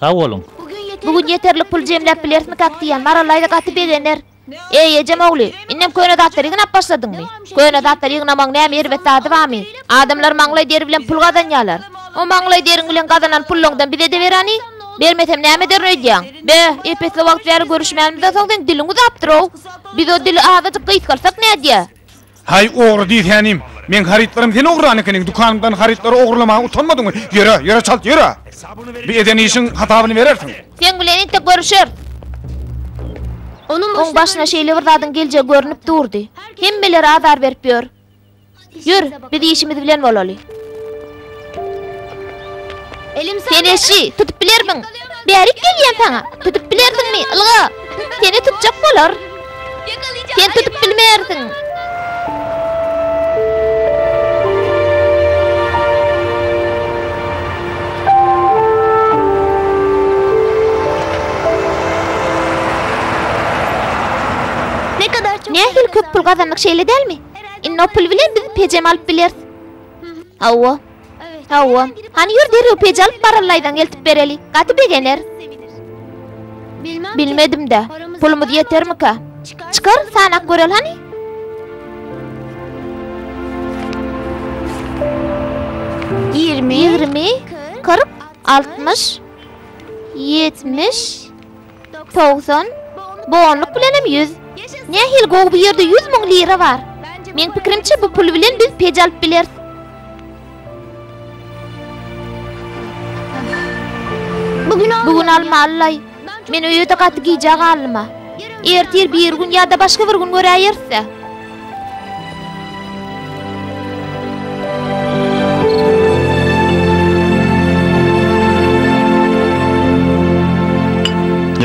Sag boluň. Bu gün ýeterlik pul jemläp bilerismikak diýýän Marallaýda gaty begener. Eý, ejem ogly, indem köne zatlary ýygnap başladyňmy? Köne zatlary ýygnamagyň näme erbet zady barmy? Adamlar maňlaý deri bilen pul gazanýarlar. O maňlaý deriň bilen gazanan pullaňdan bize-de berani? Bermesem näme ederin öýdýäň? Be, epesli wagt bäri görüşmänimizden soň seň diliň uzapdyr-ow. Biz o dili azajyk gysgyrsak nädýä? Haý, ogry diýsänim. Meň harytlarym sen ogurlan ekeniň, dükanymdan harytlary ogurlamaga utanmadyňmy? Ýöre, ýöre çalt, ýöre! Bu eden işiň hasabyny berersiň. Seň bilen entek görüşer. Onuň başyna şeýle bir zadyň geljegi görnüp durdy. Hemmelere azar berip ýör. Ýör, biz işimiz bilen bolaly. Sen eşi, tutup bilermiň? Bärik gelýän saňa. Tutup bilersiňmi? Ylga, seni tutjak bolar. Sen tutup bilmersiň. Nähili köp pul gazandyk, şeýle dälmi? Indi o pul bilen biz pejem alyp bileris. Hawa. Hawa. Hany ýör derrew peji alyp barallaýdan eltip bereli. Gaty begener. Bilmedim-de. Pulumyz ýetermika? Çykar, sanap göreli hany. Ýigrimi. Ýigrimi. Kyrk. Altmyş. Ýetmiş. Togsan? Bu onluk bilenem ýüz. Nähili gowy bu ýerde ýüz müň lira bar. Meň pikirimçe bu pul bilen biz pej alyp bileris. Bu gün almalylaý. Men öýe-de gaty gijä galdym-a. Ertir birigün ýa-da başga bir gün göräýeris-ä.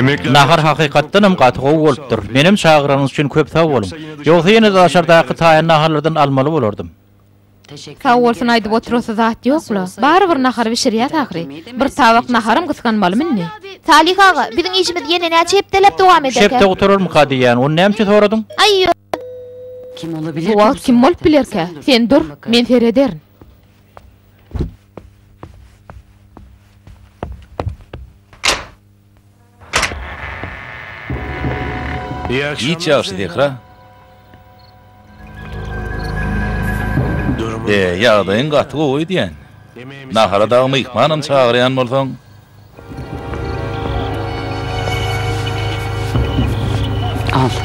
Nahar hakykatdan hem gaty gowy bolupdyr. Menem çagyranyňyz üçin köp sag boluň. Ýogsa ýene-de daşardaky taýan naharlardan almaly bolardym. Sag bolsun aýdyp oturasy zat ýok la. Barybir nahar bişirýäs ahyry. Bir tabak naharam gysganmalymy indi. Salyh aga, biziň işimiz ýene näçe hepdeläp dowam ederkä? Üç hepde gutararmyka diýýän, ony näme üçin soradyň? Aý ýok. Bu wagt kim bolup bilerkä? Sen dur, men serederin. Giç ýagşy Zehra. E, ýagdaýyň gaty gowy öýdýän. Nahara dagy myhmanam çagyrýan bolsaň.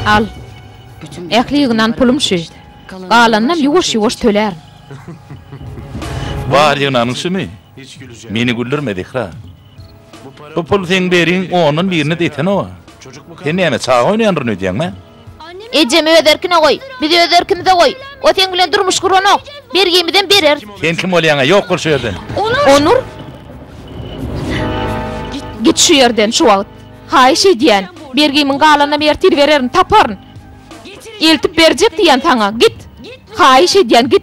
Al. Ähli ýygnan pulum şu. Galanynam ýuwaş-ýuwaş tölärin. Bar ýygnanyň şumy? Meni güldürme, Zehra. Bu pul seň beriň ondan birini-de itenok-a. Sen näme, çaga oýnaýandyryn öýdýäňmi? Ejemi öz erkine goý. Bizi öz erkimize goý. O seň bilen durmuş guranok. Bergimizem berer. Sen kim bolýaň-a? Ýok bol şu ýerden! Onur! Git şu ýerden şu wagt! Haýyş edýän! Bergimiň galanyny ertir bererin, taparyn! Eltip berjek diýýän saňa! Git! Haýyş edýän, git!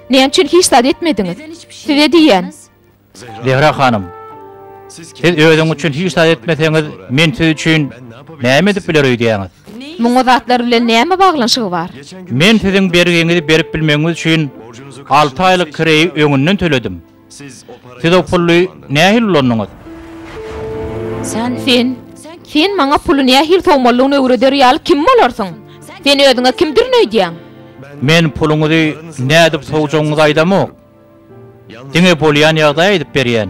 Näme üçin hiç zat etmediňiz? Size diýýän. Zehra hanym, siz özüňiz üçin hiç zat etmeseňiz, men siz üçin näme edip biler öýdýäňiz? Muň o zatlar bilen näme baglanyşygy bar? Men siziň bergiňizi berip bilmegiňiz üçin alty aýlyk kireýi öňünden töledim. Siz o puly nähili ulandyňyz? Sen, sen maňa puly nähili sowmalydygyny öwreder ýaly kim bolarsyň? Sen özüňe kimdirin öýdýäň? Men puluňyzy nädip sowjagyňyzy aýdamok. Diňe bolýan ýagdaýy aýdyp berýän.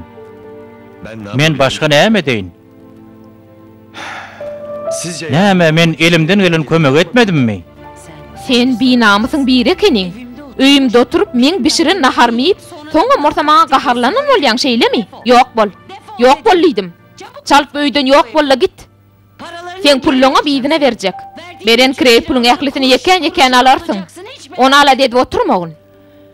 Men başga näme edeýin? Näme, men elimden gelen kömegi etmedimmi? Sen binamysyň biri ekeniň. Öýümde oturyp, meň bişiren naharymy iýip, soňam bolsa maňa gaharlanan bolýaň, şeýlemi? Ýok bol! Ýok bol diýdim! Çalt öýden ýok bol-da git! Seň pulluňam yzyna berjek. Beren kireý puluň ählisini ýekän-ýekän alarsyň. Ony aladedip oturmagyn.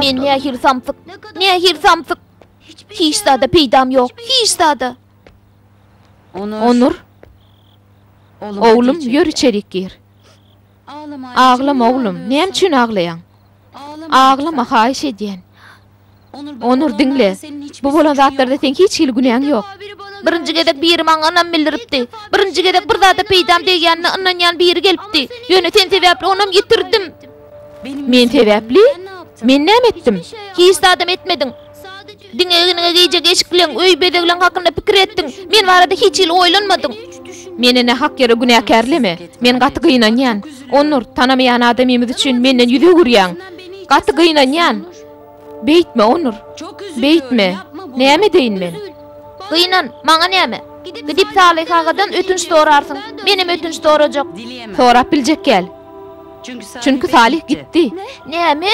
Men nähili samsyk, nähili samsyk! Hiç zada peýdam ýok, hiç zada! Onur, oglum, ýör içerik gir. Aglama, oglum, näme üçin aglaýaň? Aglama, haýyş edýän! Onur, diňle. Bu bolan zatlarda seň hiç hili günäň ýok. Birinji gezek biri maňa ynam bildiripdi. Birinji gezek bir zada peýdam degýänine ynanýan biri gelipdi. Ýöne sen sebäpli onam ýitirdim. Men sebäpli? Men näme etdim? Hiç zadam etmediň. Diňe egniňe gijek eşikleň, öý bezegleň hakynda pikir etdiň. Men barada hiç hili oýlanmadyň. Meni nähak ýere günäkärleme. Men gaty gynanýan. Onur, tanamaýan adamymyz üçin menden ýüz öwürýäň. Gaty gynanýan. Beýtme, Onur! Beýtme! Näme edeýin men? Gynan, maňa näme? Gidip Salyh agadan ötünç sorarsyň. Menem ötünç sorajak. Sorap biljek gäl. Çünki Salyh gitdi. Näme?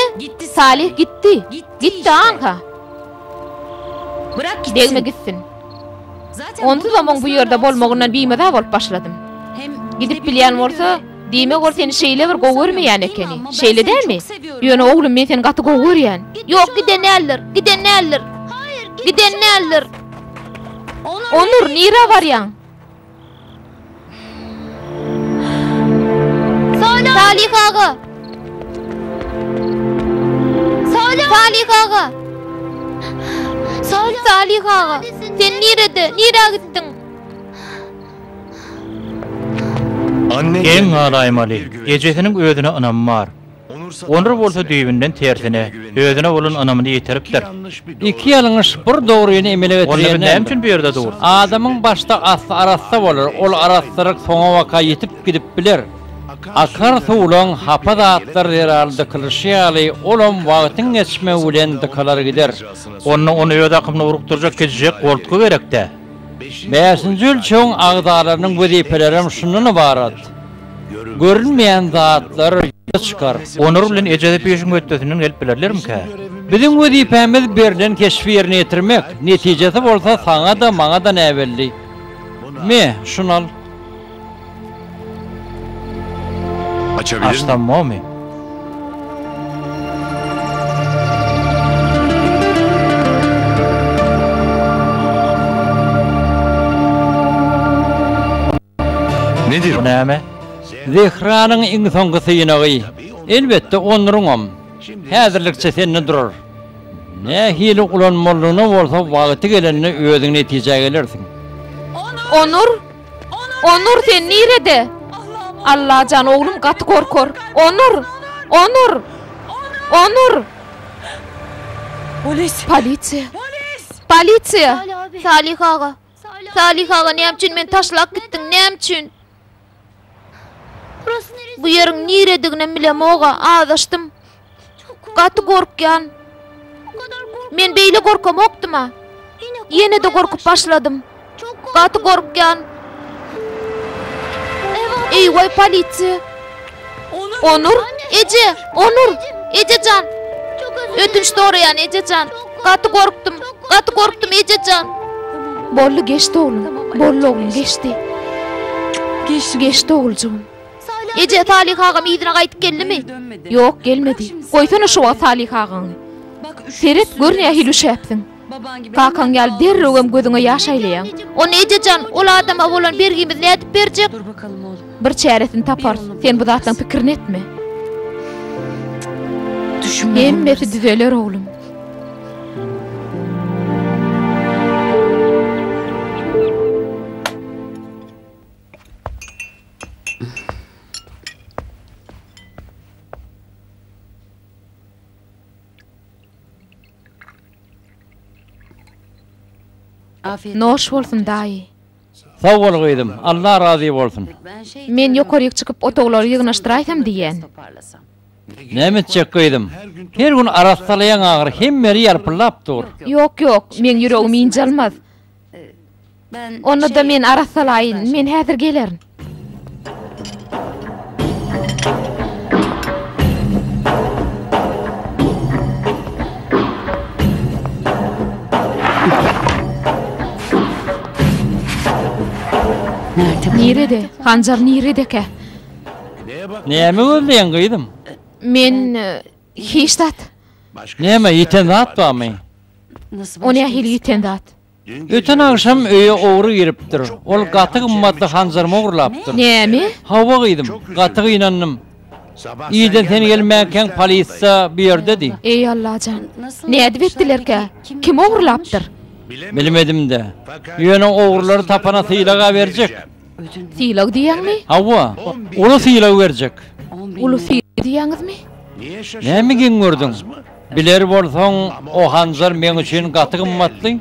Salyh gitdi. Gitdi, aňka. Degme gitsin. Onsuzam oň bu ýerde bolmagyndan bimaza bolup başladym. Gidip bilýän bolsa, diýmek ol seni şeýle bir gowy görmeýän ekeni, şeýle dälmi? Ýöne, oglum, men seni gaty gowy görýän. Ýok, giden däldir, giden däldir, giden däldir! Onur, nirä barýaň? Salih aga! Salih aga! Salih aga! Sen nirede? Nira gittin? Geň galaýmaly. Ejesiniň özüne ynamy bar. Onur bolsa düýbünden tersine, özüne bolan ynamyny ýitiripdir. Iki ýalňyş, bir dogryny emele getirýän näme? Adamyň başda asly arassa bolar, ol arassalyk soňabaka ýitip gidip biler. Akar suwlaň hapa zatlar zerarly dykylyşy ýaly, olam wagtyň geçmegi bilen dykalar gider. Onda ony öz akymyna urukdyrjak gijijek goltgy gerek-dä. Bäşinji ölçegiň agzalarynyň wezipelerem şundan ybarat. Görünmeýän zatlar ýüze çykar. Onar bilen ejesi pişiň hötdesinden gelip bilerlermikä? Biziň wezipämiz berlen keşbi ýerine ýetirmek, netijesi bolsa saňa-da, maňa-da näbelli. Me, şuny al. Açabilirmi? Nedir? Bu näme? Zehranyň iň soňky synagy. Elbetde, onruňam. Häzirlikçe sende durar. Nähili ulanmalyny bolsa wagty gelende özüň netijä gelersiň. Onur! Onur, sen nirede? Allajan, oglum gaty gorkar. Onur! Onur! Onur! Polisiýa! Polisiýa! Salih aga, Salyh aga näme üçin meni taşlap gitdiň näme üçin. Bu ýeriň nirediginem bilemoga azaşdym. Gaty gorkýan. Men beýle gorkamokdyma. Ýenede gorkup başladym. Gaty gorkýan. Eý way polisiýa. Onur, eje, Onur, eje jan. Ötünç soraýan eje jan. Gaty gorkdum, gaty gorkdum eje jan. Boldy geçdi oglum, boldy oglum geçdi. Geçdi oguljygym. Eje, Salyh agam yzyna gaýdyp geldimi? Ýok, gelmedi. Goýsana şu wagt Salyh agaňy. Seret, gör nähili üşäpsiň. Kakaň ýaly derrewem gözüňe ýaş aýlaýaň. Ony eje jan, ol adama bolan bergimizi nädip berjek? Bir çäresini taparys. Sen bu zatlaryň pikirini etme. Hemmesi düzeler oglum. Noş bolsun daýy. Sag bol gyzym, Allah razy bolsun. Men ýokaryk çykyp otaglary ýygnaşdyraýsam diýýän. Näme etjek gyzym? Her gün arassalaýaň agyr, hemmeli ýalpyllap dur. Ýok, ýok, meň ýüregim ynjalmaz. Onda-da men arassalaýyn, men häzir gelerin. Nirede? Hanjar niredekä? Näme gözleýäň, gyzym? Men... Hiç zat. Näme, ýiten zat barmy? O nähili ýiten zat? Öten agşam öýe ogry giripdir. Ol gaty gymmatly hanjarymy ogurlapdyr. Näme? Hawa, gyzym. Gaty gynandym. Irden sen gelmänkäň polisiýa bu ýerdedi. Eý Allajan. Nädip etdilerkä? Kim ogurlapdyr? Bilmedim-dä. Ýöne ogrular tapana sylag-a berjek. Sylag diýýäňmi? Hawa, uly sylag berjek. Uly sylag diýýäňizmi? Näme geň gördüň? Biler bolsaň, o hanjar meň üçin gaty gymmatly.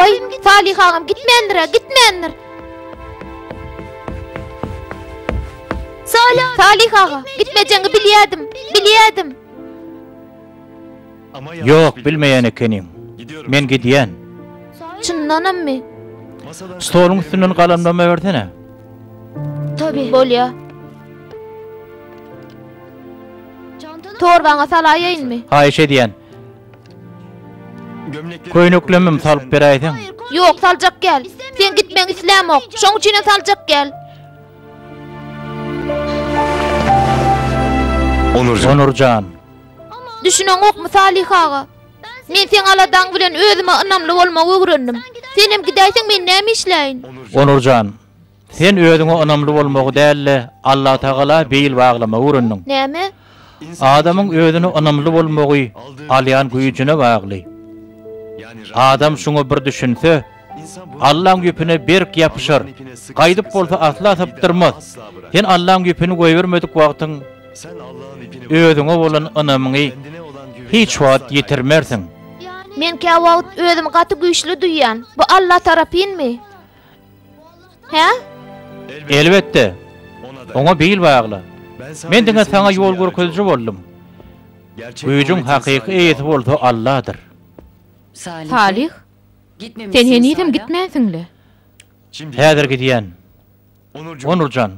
Oý, Salyh agam gitmändir-ä, gitmändir. Salyh, Salyh aga, gitmejäňi bilýärdim, bilýärdim. Ýok, bilmeýän ekeniň. Men gidýän. Çyndanammy? Stoluň üstünden galamlama bersene. Tabi. Bolýa. Torbaňa salaýaýynmy? Haýyş edýän. Köýneklemem salyp beräýseň. Ýok, saljak gel. Sen gitmegiňi islämok. Şoň üçinem saljak gel. Onurjan. Onurjan. Düşüneňokmy Salyh aga? Men seň aladaň bilen özüme ynamly bolmagy öwrendim. Senem gidäýseň men näme işläýin? Onurjan. Sen özüňe ynamly bolmagy däl-de, Allatagala beýil baglamagy öwrendiň. Näme? Adamyň özüne ynamly bolmagy alýan güýjüne bagly. Adam şuňa bir düşünse, Allaň ýüpüne berk ýapyşar, gaýdyp bolsa asla sypdyrmaz. Sen Allaň ýüpüni goýbermedik wagtyň, özüňe bolan ynamyňy hiç wagt ýitirmersiň. Men käwagt özümi gaty güýçli duýýan. Bu Alla tarapynmy? Hä? Elbetde. Oňa bil bagla. Men diňe saňa ýol görkeziji boldum. Güýjüň hakyky eýesi bolsa Alladyr. Salih, sen henizem gitmänsiň-le? Häzir gidýän. Onur jan,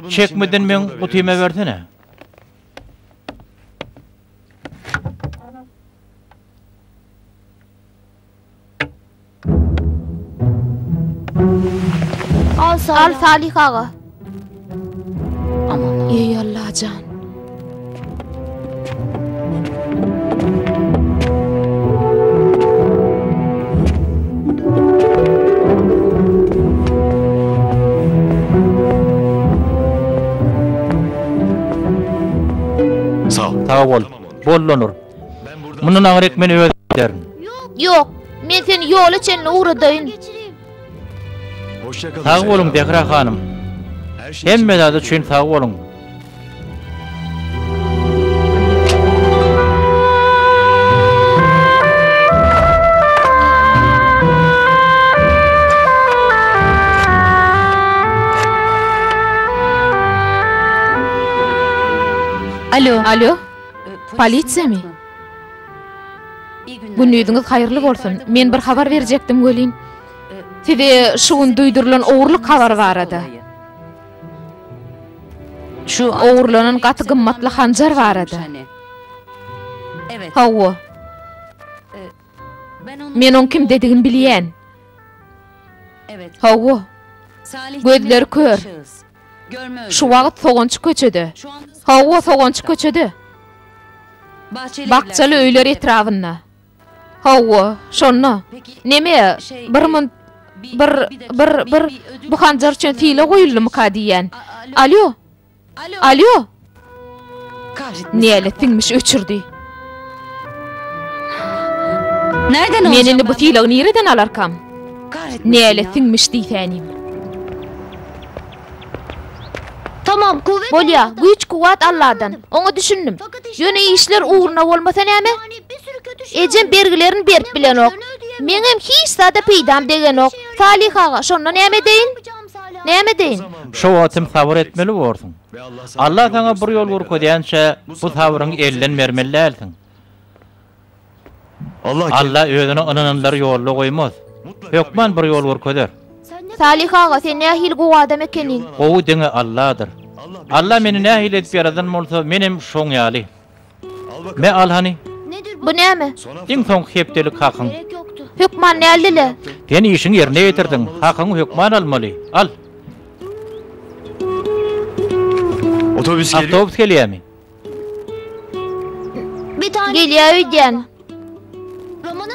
çekmeden meň gutymy bersene. Al Salih. Al Salih aga. Aman. Ey Allajan. Sag bol. Bollanur. Mundan aňryk men özüm giderin. Ýok, men seni ýola çenli ugradaýyn. Sag boluň, Zehra hanym. Hemme zat üçin sag boluň. Alo. Polisiýamy? Gündiziňiz haýyrly bolsun. Men bir habar berjekdim welin. Size şu gün duýdurylan ogurlyk habary barada. Şu ogurlanan gaty gymmatly hanjar barada. Hawa. Men oň kimdedigini bilýän. Hawa. Gözleri kör. Şu wagt sogançy köçede. Hawa, sogançy köçede. Bakjaly öýler etrabynda. Hawa, şonda. Neme, bir munt, bir, bir, bir, bu hanjar üçin sile goýuldymyka diýýän. Alýo. Alýo! Nälet siňmiş öçürdi. Men indi bu sylagy nireden alarkam? Nälet siňmiş diýsänim. Bolýa, güýç-kuwwat Alladan. Oňa düşündim. Ýöne işler ugruna bolmasa näme? Ejem bergilerini berip bilenok. Meňem hiç zada peýdam degenok. Salyh aga, şonda näme edeýin? Näme edeýin? Şo wagt hem sabyr etmeli borsuň. Alla saňa bir ýol görkezýänçä, bu sabryňy elden bermeli dälsiň. Alla Özüne ynananlary ýolda goýmaz. Hökman bir ýol görkezer. Salyh aga, sen nähili gowy adam ekeniň. Gowy diňe Alladyr. Alla meni nähili edip ýaradan bolsa, menem şoň ýaly. Me al hany. Bu näme? Iň soňky hepdelik hakyň. Hökman näldile? Sen işiňi ýerine ýetirdiň, hakyňy hökman almaly. Al. Awtobus gelýärmi? Gelýär öýdýän.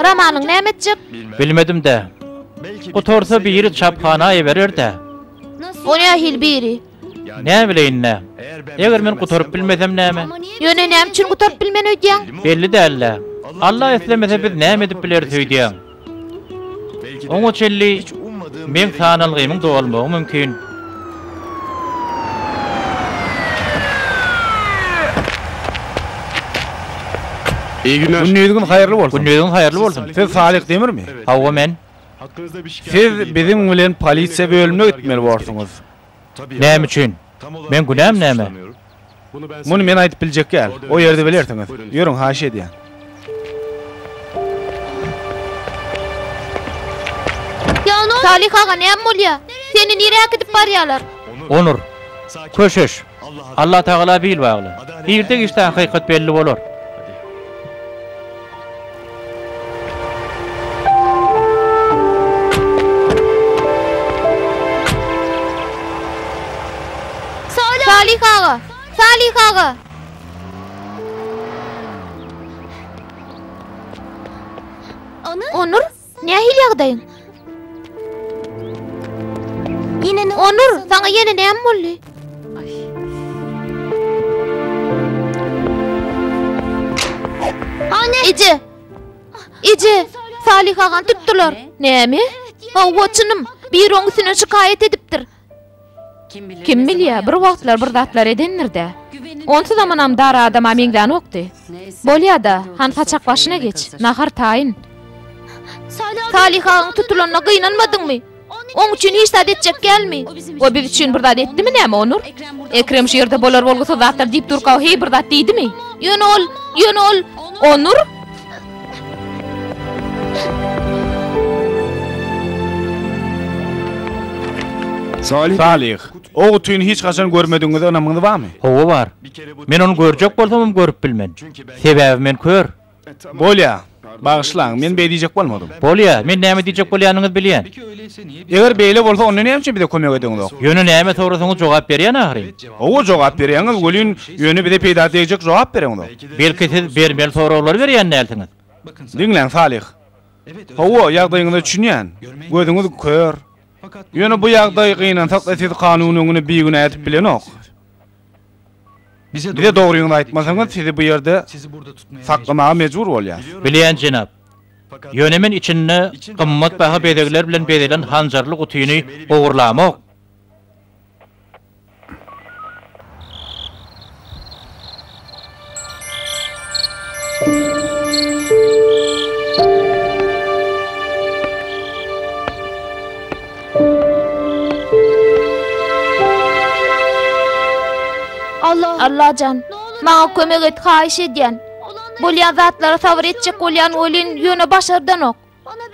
Romanyň näme etjek? Bilmedim-dä. Gutarsa biri çaphana eberer-dä. O nähili biri? Näbileýin-dä. Eger men gutaryp bilmesem näme? Ýöne näme üçin gutaryp bilmen öýdýäň? Belli däl-dä. Alla islemese biz näme edip bileris öýdýän. Oňa çenli meň sanalgymyň dolmagy mümkin. Gündiziňiz haýyrly bolsun. Gündiziňiz haýyrly bolsun. Siz Salyh Demirmi? Hawa men. Siz biziň bilen polisiýa bölümine gitmeli borsuňyz. Näme üçin? Meň günäm näme? Muny men aýdyp biljek däl. O ýerde bilersiňiz. Ýörüň, haýyş edýän. Salyh aga, näme bolýar? Seni nirä äkidip barýarlar? Onur, köşeş. Alla Tagala bil bagly. Irde gişde hakykat belli bolar. Salih aga! Salih aga! Onur? Nähili ýagdaýyň? Onur, saňa ýene näme boldy? Eje! Eje! Salyh agany tutdular. Näme? Hawa, çynym. Biri oň üstüne şikaýat edipdir. Kim bilýä, bir wagtlar bir zatlar edendir-dä. Onsuz amanam dar adama meňzänokdy. Bolýa-da, han saçak başyna geç, nahar taýyn. Salyh agaň tutulanyna gynanmadyňmy? Oň üçin hiç zat etjek dälmi? O biz üçin bir zat etdimi näme, Onur? Ekrem şu ýerde bolar-bolgusyz zatlar diýip durka-a heý bir zat diýdimi? Ýöne ol, ýöne ol. Onur? Salyh, o gutyny hiç haçan görmedigiňize ynamyňyz barmy? Hawa, bar. Men ony görjek bolsamam görüp bilmen. Sebäbi men kör. Bolýa. Bagyşlaň, men beý diýjek bolmadym. Bolýa, men näme diýjek bolýanyňyzy bilýän. Eger beýle bolsa, onda näme üçin bize kömek edeňizok? Ýöne näme sorasaňyz jogap berýän ahyryn. Gowy jogap berýäňiz welin ýöne bize peýda degjek jogap bereňzok. Belki siz bermeli soraglary berýän dälsiňiz. Diňläň Salyh. Hawa ýagdaýyňyza düşünýän. Gözüňiz kör. Ýöne bu ýagdaý gynansakda siz kanun öňüne bigünä edip bilenok. Bize dogryňyzy aýtmasaňyz sizi bu ýerde saklamaga mejbur bolýas. Bilýän jenap. Ýöne men içinde gymmat baha bezegler bilen bezelen hanjarly gutyny ogurlamok. Allajan, maňa kömek et, haýyş edýän. Bolýan zatlara sabyr etjek bolýan welin, ýöne başardanok.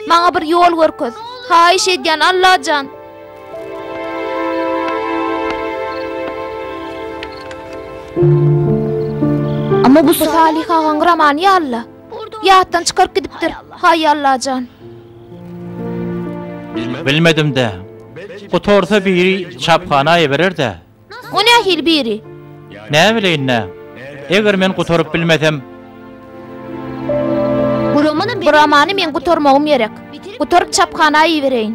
Maňa bir ýol görkez. Haýyş edýän, Allajan! Amma bu Salyh agaň gramany ýaly-la. Ýatdan çykaryp gidipdir. Haý, Allajan! Bilmedim-dä. Gutarsa biri çaphana iberer-dä. O nähili biri? Näbileýin-dä. Eger men gutaryp bilmesem? Bu romany men gutarmagym gerek. Gutaryp çaphana ibereýin.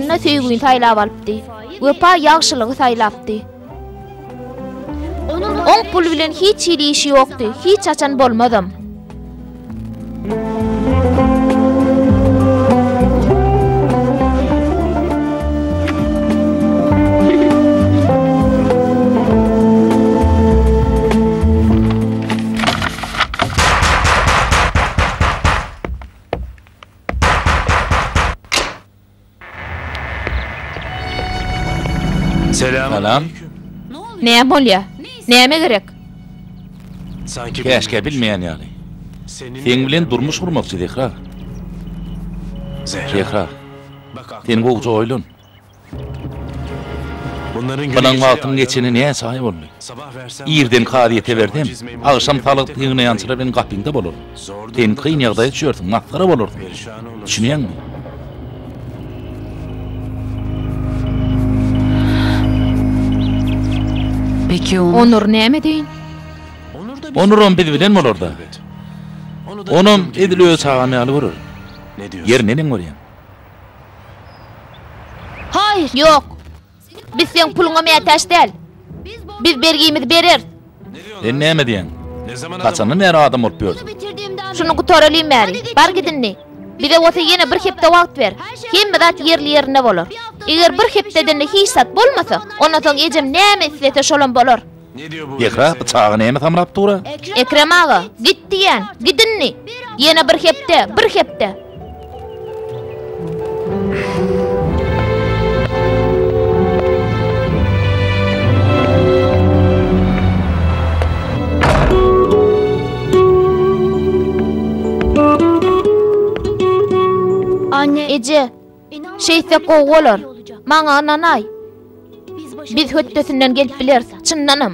Anna söýgini saýlap alypdy. Wepa ýagşylygy saýlapdy. Oň pul bilen hiç hili işi ýokdy, hiç haçan bolmazam. Salam. Näme bolýar? Näme gerek? Käşgä bilmeýän ýaly. Seň bilen durmuş gurmakçy, Zehra. Zehra. Sen gowja oýlan. Bilen wagtyň geçeni näçe aý boldy? Irden kazyýete bersem, agşam salgyt ýygnaýan çyra bilen gapyňda bolar. Sen kyn ýagdaýa düşersiň, masgara bolarsyň. Düşünýäňmi? Onur näme deýin? Onuram biz bilen bolar-da. Onam edil öz çagam ýaly görer. Ýeri neneň bolýar? Haýyr, ýok! Biz seň puluňa mätäç däl. Biz bergimizi bereris. Sen näme diýýäň? Haçandan bäri adam bolup ýörüň? Şuny gutaralyň bäri. Bar git indi. Bize bolsa ýene bir hepde wagt ber. Hemme zat ýerli-ýerinde bolar. Eger bir hepdeden-de hiç zat bolmasa, ondan soň ejem näme islese şolam bolar. Zehra pyçagy näme samrap dur-a? Ekrem aga, git diýýän, git indi! Ýene bir hepde, bir hepde! Eje! Şeýtsek gowy bolar. Maňa ynanaý. Biz hötdesinden gelip bileris, çyndanam.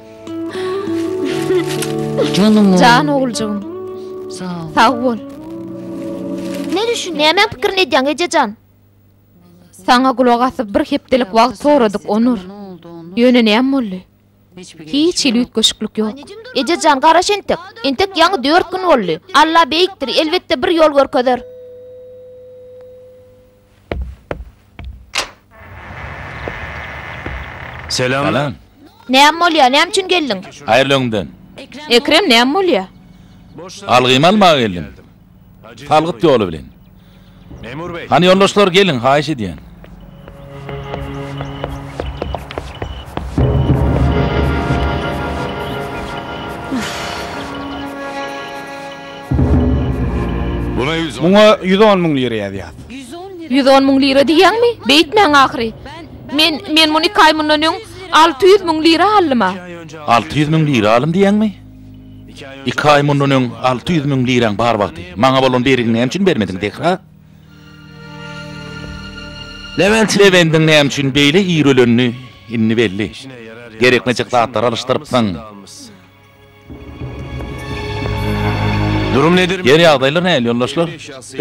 Janyň Jan oguljygym. Sag bol. Ne düşünýäň? Nämäň pikirini edýäň, ejejan? Saňa gulak asyp bir hepdelik wagt soradyk, Onur. Ýöne näme boldy? Hiç hili üýtgeşiklik ýok. Ejejan, garaş entek. Entek ýaňy dört gün boldy. Alla beýikdir, elbetde bir ýol görkezer. Selam. Salam. Näme bolýar? Näme üçin geldiň? Haýyrly öňden. Ekrem, näme bolýar? Algymy almaga geldim. Salgyt ýoly bilen. Hany ýoldaşlar geliň, haýyş edýän. Muňa ýüz on müň lira ýazýas. Ýüz on müň lira diýýäňmi? Beýtmäň ahyry. Men, men muny iki aý mundan öň alty ýüz müň lira aldym-a. Alty ýüz müň lira aldym diýýäňmi? Iki aý mundan öň alty ýüz müň liraň bar wagty, maňa bolan bergiňi näme üçin bermediň, Zehra? Lewendiň näme üçin beýle ir ölenini indi belli. Gerekmejek zatlary alyşdyrypsyň. Durum nedir? Ýer ýagdaýlar nähili ýoldaşlar?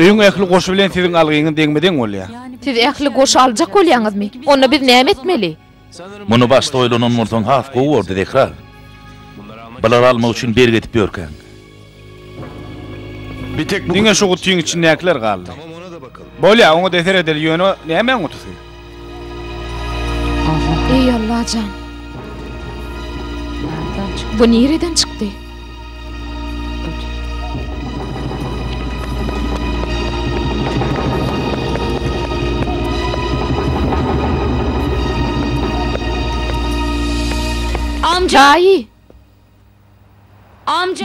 Öýüň ähli goşy bilen siziň algyňyz deňme-deň bolýar. Siz ähli goşy aljak bolýaňyzmy? Onda biz näme etmeli? Muny başda oýlananmolsaň has gowy bordy Zehra. Bulary almak üçin bergi edip ýörkäň. Bir tek bu Diňe şu gutyň içindäkiler galdy. Tamam ona da bakalım. Bolýa, oňa deser edeli ýöne nämäň gutusy? Eý Allajan. Bu nireden çykdy? Amca! Daýy!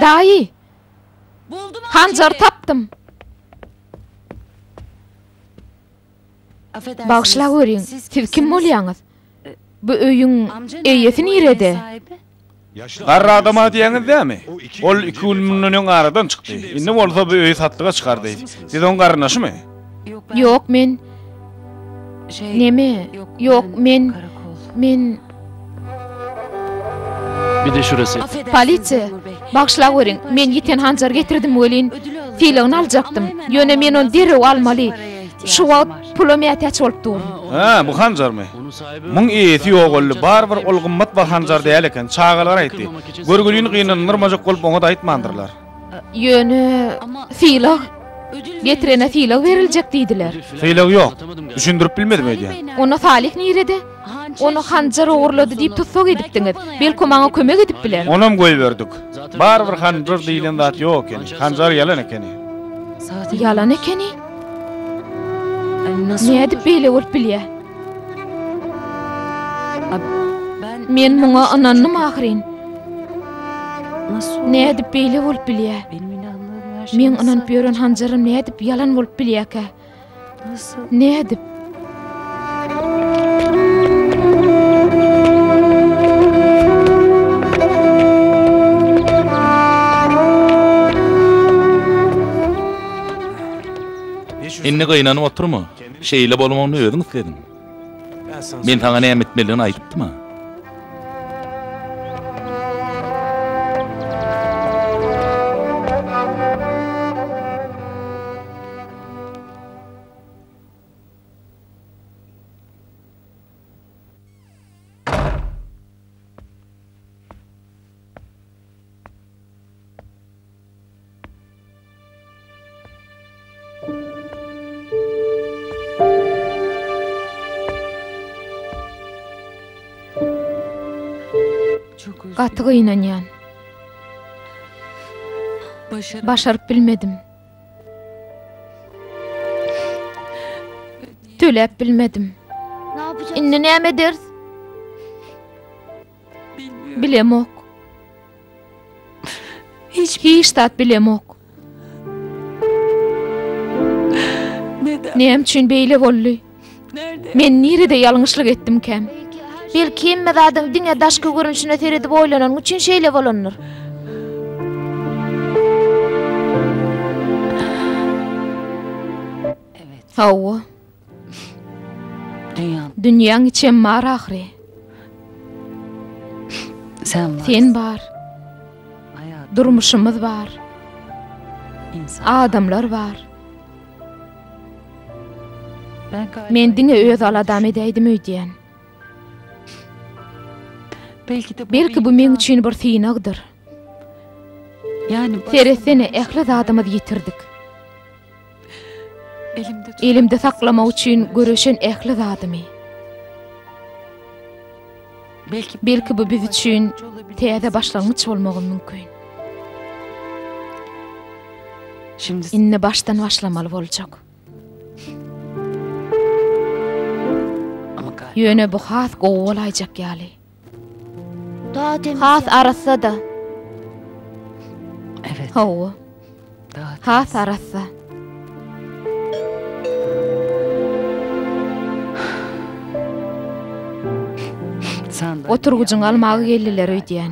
Daýy! Hanjary tapdym! Bagyşlap görýin, siz kim bolýaňyz? Bu öýüň eýesi nirede? Garry adama diýýäňiz dämi? Ol iki gün mundan öň aradan çykdy. Indi bolsa bu öýi satlyga çykardy. Siz oň garyndaşymy? Ýok, men Neme? Ýok, men, men. Bide şurasy. Polisiýa! Bagyşlaweriň, men ýiten hanjary getirdim welin, sylagyny aljakdym. Ýöne men ony derrew almaly. Şu wagt pula mätäç bolup durun. Hä, bu hanjarmy? Muň eýesi ýogaldy. Barybir ol gymmat baha hanjar däl eken. Çagalar aýtdy. Görgülini gynandyrmajak bolup oňa-da aýtmandyrlar. Ýöne sylag getirene sylag beriljek diýdiler. Sylag ýok. Düşündirip bilmedim öýdýän. Onda Salyh nirede? Ony Hanjar ogurlady diýip tussag edipdiňiz. Belki maňa kömek edip biler. Onam goýberdik. Barybir Hanjar diýlen zat ýok ekeni. Hanjar ýalan ekeni. Ýalan ekeni? Nädip beýle bolup bilýär? Men muňa ynandym ahyryn. Nädip beýle bolup bilýär? Meň ynanyp ýören hanjarym nädip ýalan bolup bilýärkä? Nädip? Indi gynanyp oturma. Şeýle bolmagyny özüň islediň. Men saňa näme etmelidigini aýdypdyma? Gaty gynanýan. Başaryp bilmedim. Töläp bilmedim. Indi näme ederis? Bilemok. Hiç zat bilemok. Näme üçin beýle boldy? Men nirede ýalňyşlyk etdimkäm? Belki hemme zadyň diňe daşky görnüşine seredip oýlananyň üçin şeýle bolandyr. Hawa. Dünýäň içem bar ahyry. Sen bar. Durmuşymyz bar. Adamlar bar. Men diňe öz aladam edäýdim öýdýän. Belki bu meň üçin bir synagdyr. Seretsene, ähli zadymyzy ýitirdik. Elimde saklamak üçin göreşen ähli zadymy. Belki bu biz üçin täze başlangyç bolmagy mümkin. Indi başdan başlamaly boljak. Ýöne bu has gowy bolaýjak ýaly. Has arassa-da. Hawa. Has arassa. Oturgyjyňy almaga geldiler öýdýän.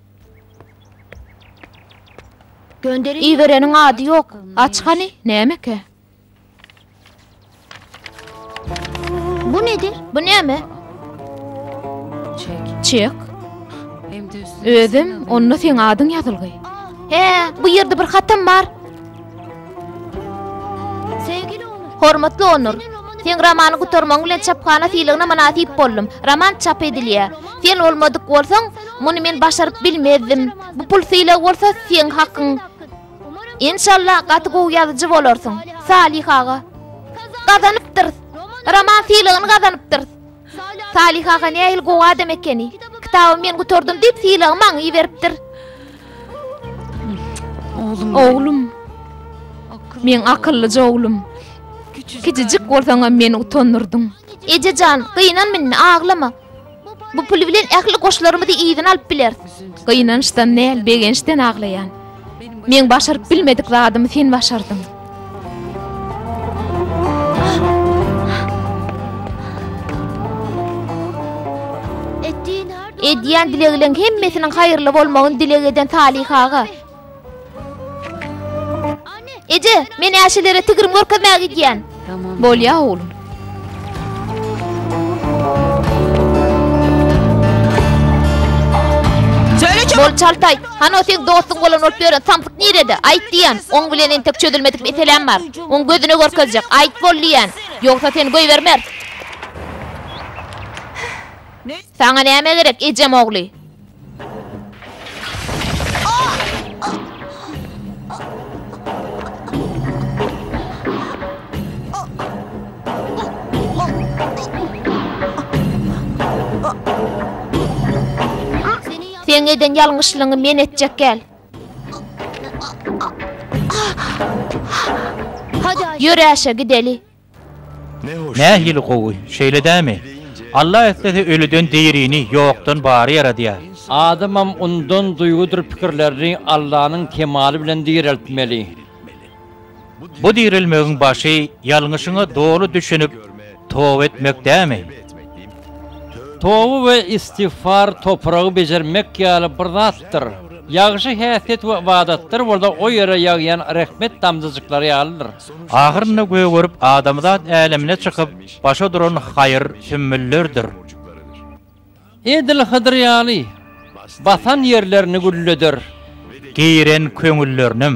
Ibereniň ady ýok. Aç hany, nämeke? Bu nedir? Bu näme? Çek. Özüm, onda seň adyň ýazylgy. He, bu ýerde bir hatam bar. Hormatly Onur! Seň romany gutarmagyň bilen çaphana sylagyna mynasyp boldum. Roman çap edilýär. Sen bolmadyk bolsaň, muny men başaryp bilmezdim. Bu pul sylagy bolsa seň hakyň. Enşalla, gaty gowy ýazyjy bolarsyň. Salih aga! Gazanypdyrys! Roman sylagyny gazanypdyrys! Salyh aga nähili gowy adam ekeni. Kitaby men gutardym diýip sylagy maňa iberipdir. Oglum. Meň akyllyja oglum. Kiçijik bolsaňam meni utandyrdyň. Eje jan, gynanma indi, aglama. Bu pul bilen ähli goşlarymyzy yzyna alyp bileris. Gynançdan däl, begençden aglaýan. Meň başaryp bilmedik zadymy sen başardyň. Edýän dilegleň hemmesiniň haýyrly bolmagyny dileg eden Salyh aga. Eje, men äşelere tigrim görkezmäge gidýän. Bolýa, oglum. Bol çaltaý, hany o seň dostuň bolan bolup ýören samsyk nirede? Aýt diýýän, oň bilen entek çözülmedik meseläm bar. Oň gözüne görkezjek, aýt bol diýýän. Ýogsa seni goýbermer. Saňa näme gerek, ejem ogly? Seň eden ýalňyşlygyňy men etjek gel. Ýör Äşe gideli. Nähili gowy, şeýle dämi? Alla islese ölüden dirini, ýokdan bary ýaradýar. Adamam yndan duýgudyr pikirlerini Allanyň kemaly bilen direltmeli. Bu direlmegiň başy ýalňyşyňa doly düşünip toba etmek dämi? Toba we istigfar topragy bejermek ýaly bir zatdyr. Ýagşy häsiýet we ybadatlar bolsa o ýere ýagýan rehmet damjajyklary ýalydyr. Ahyrynda gögerip adamzat älemine çykyp başa duran haýyr sümmüllerdir. Edil Hydyr ýaly, basan ýerlerini gülleder. Giren köňüllerinem.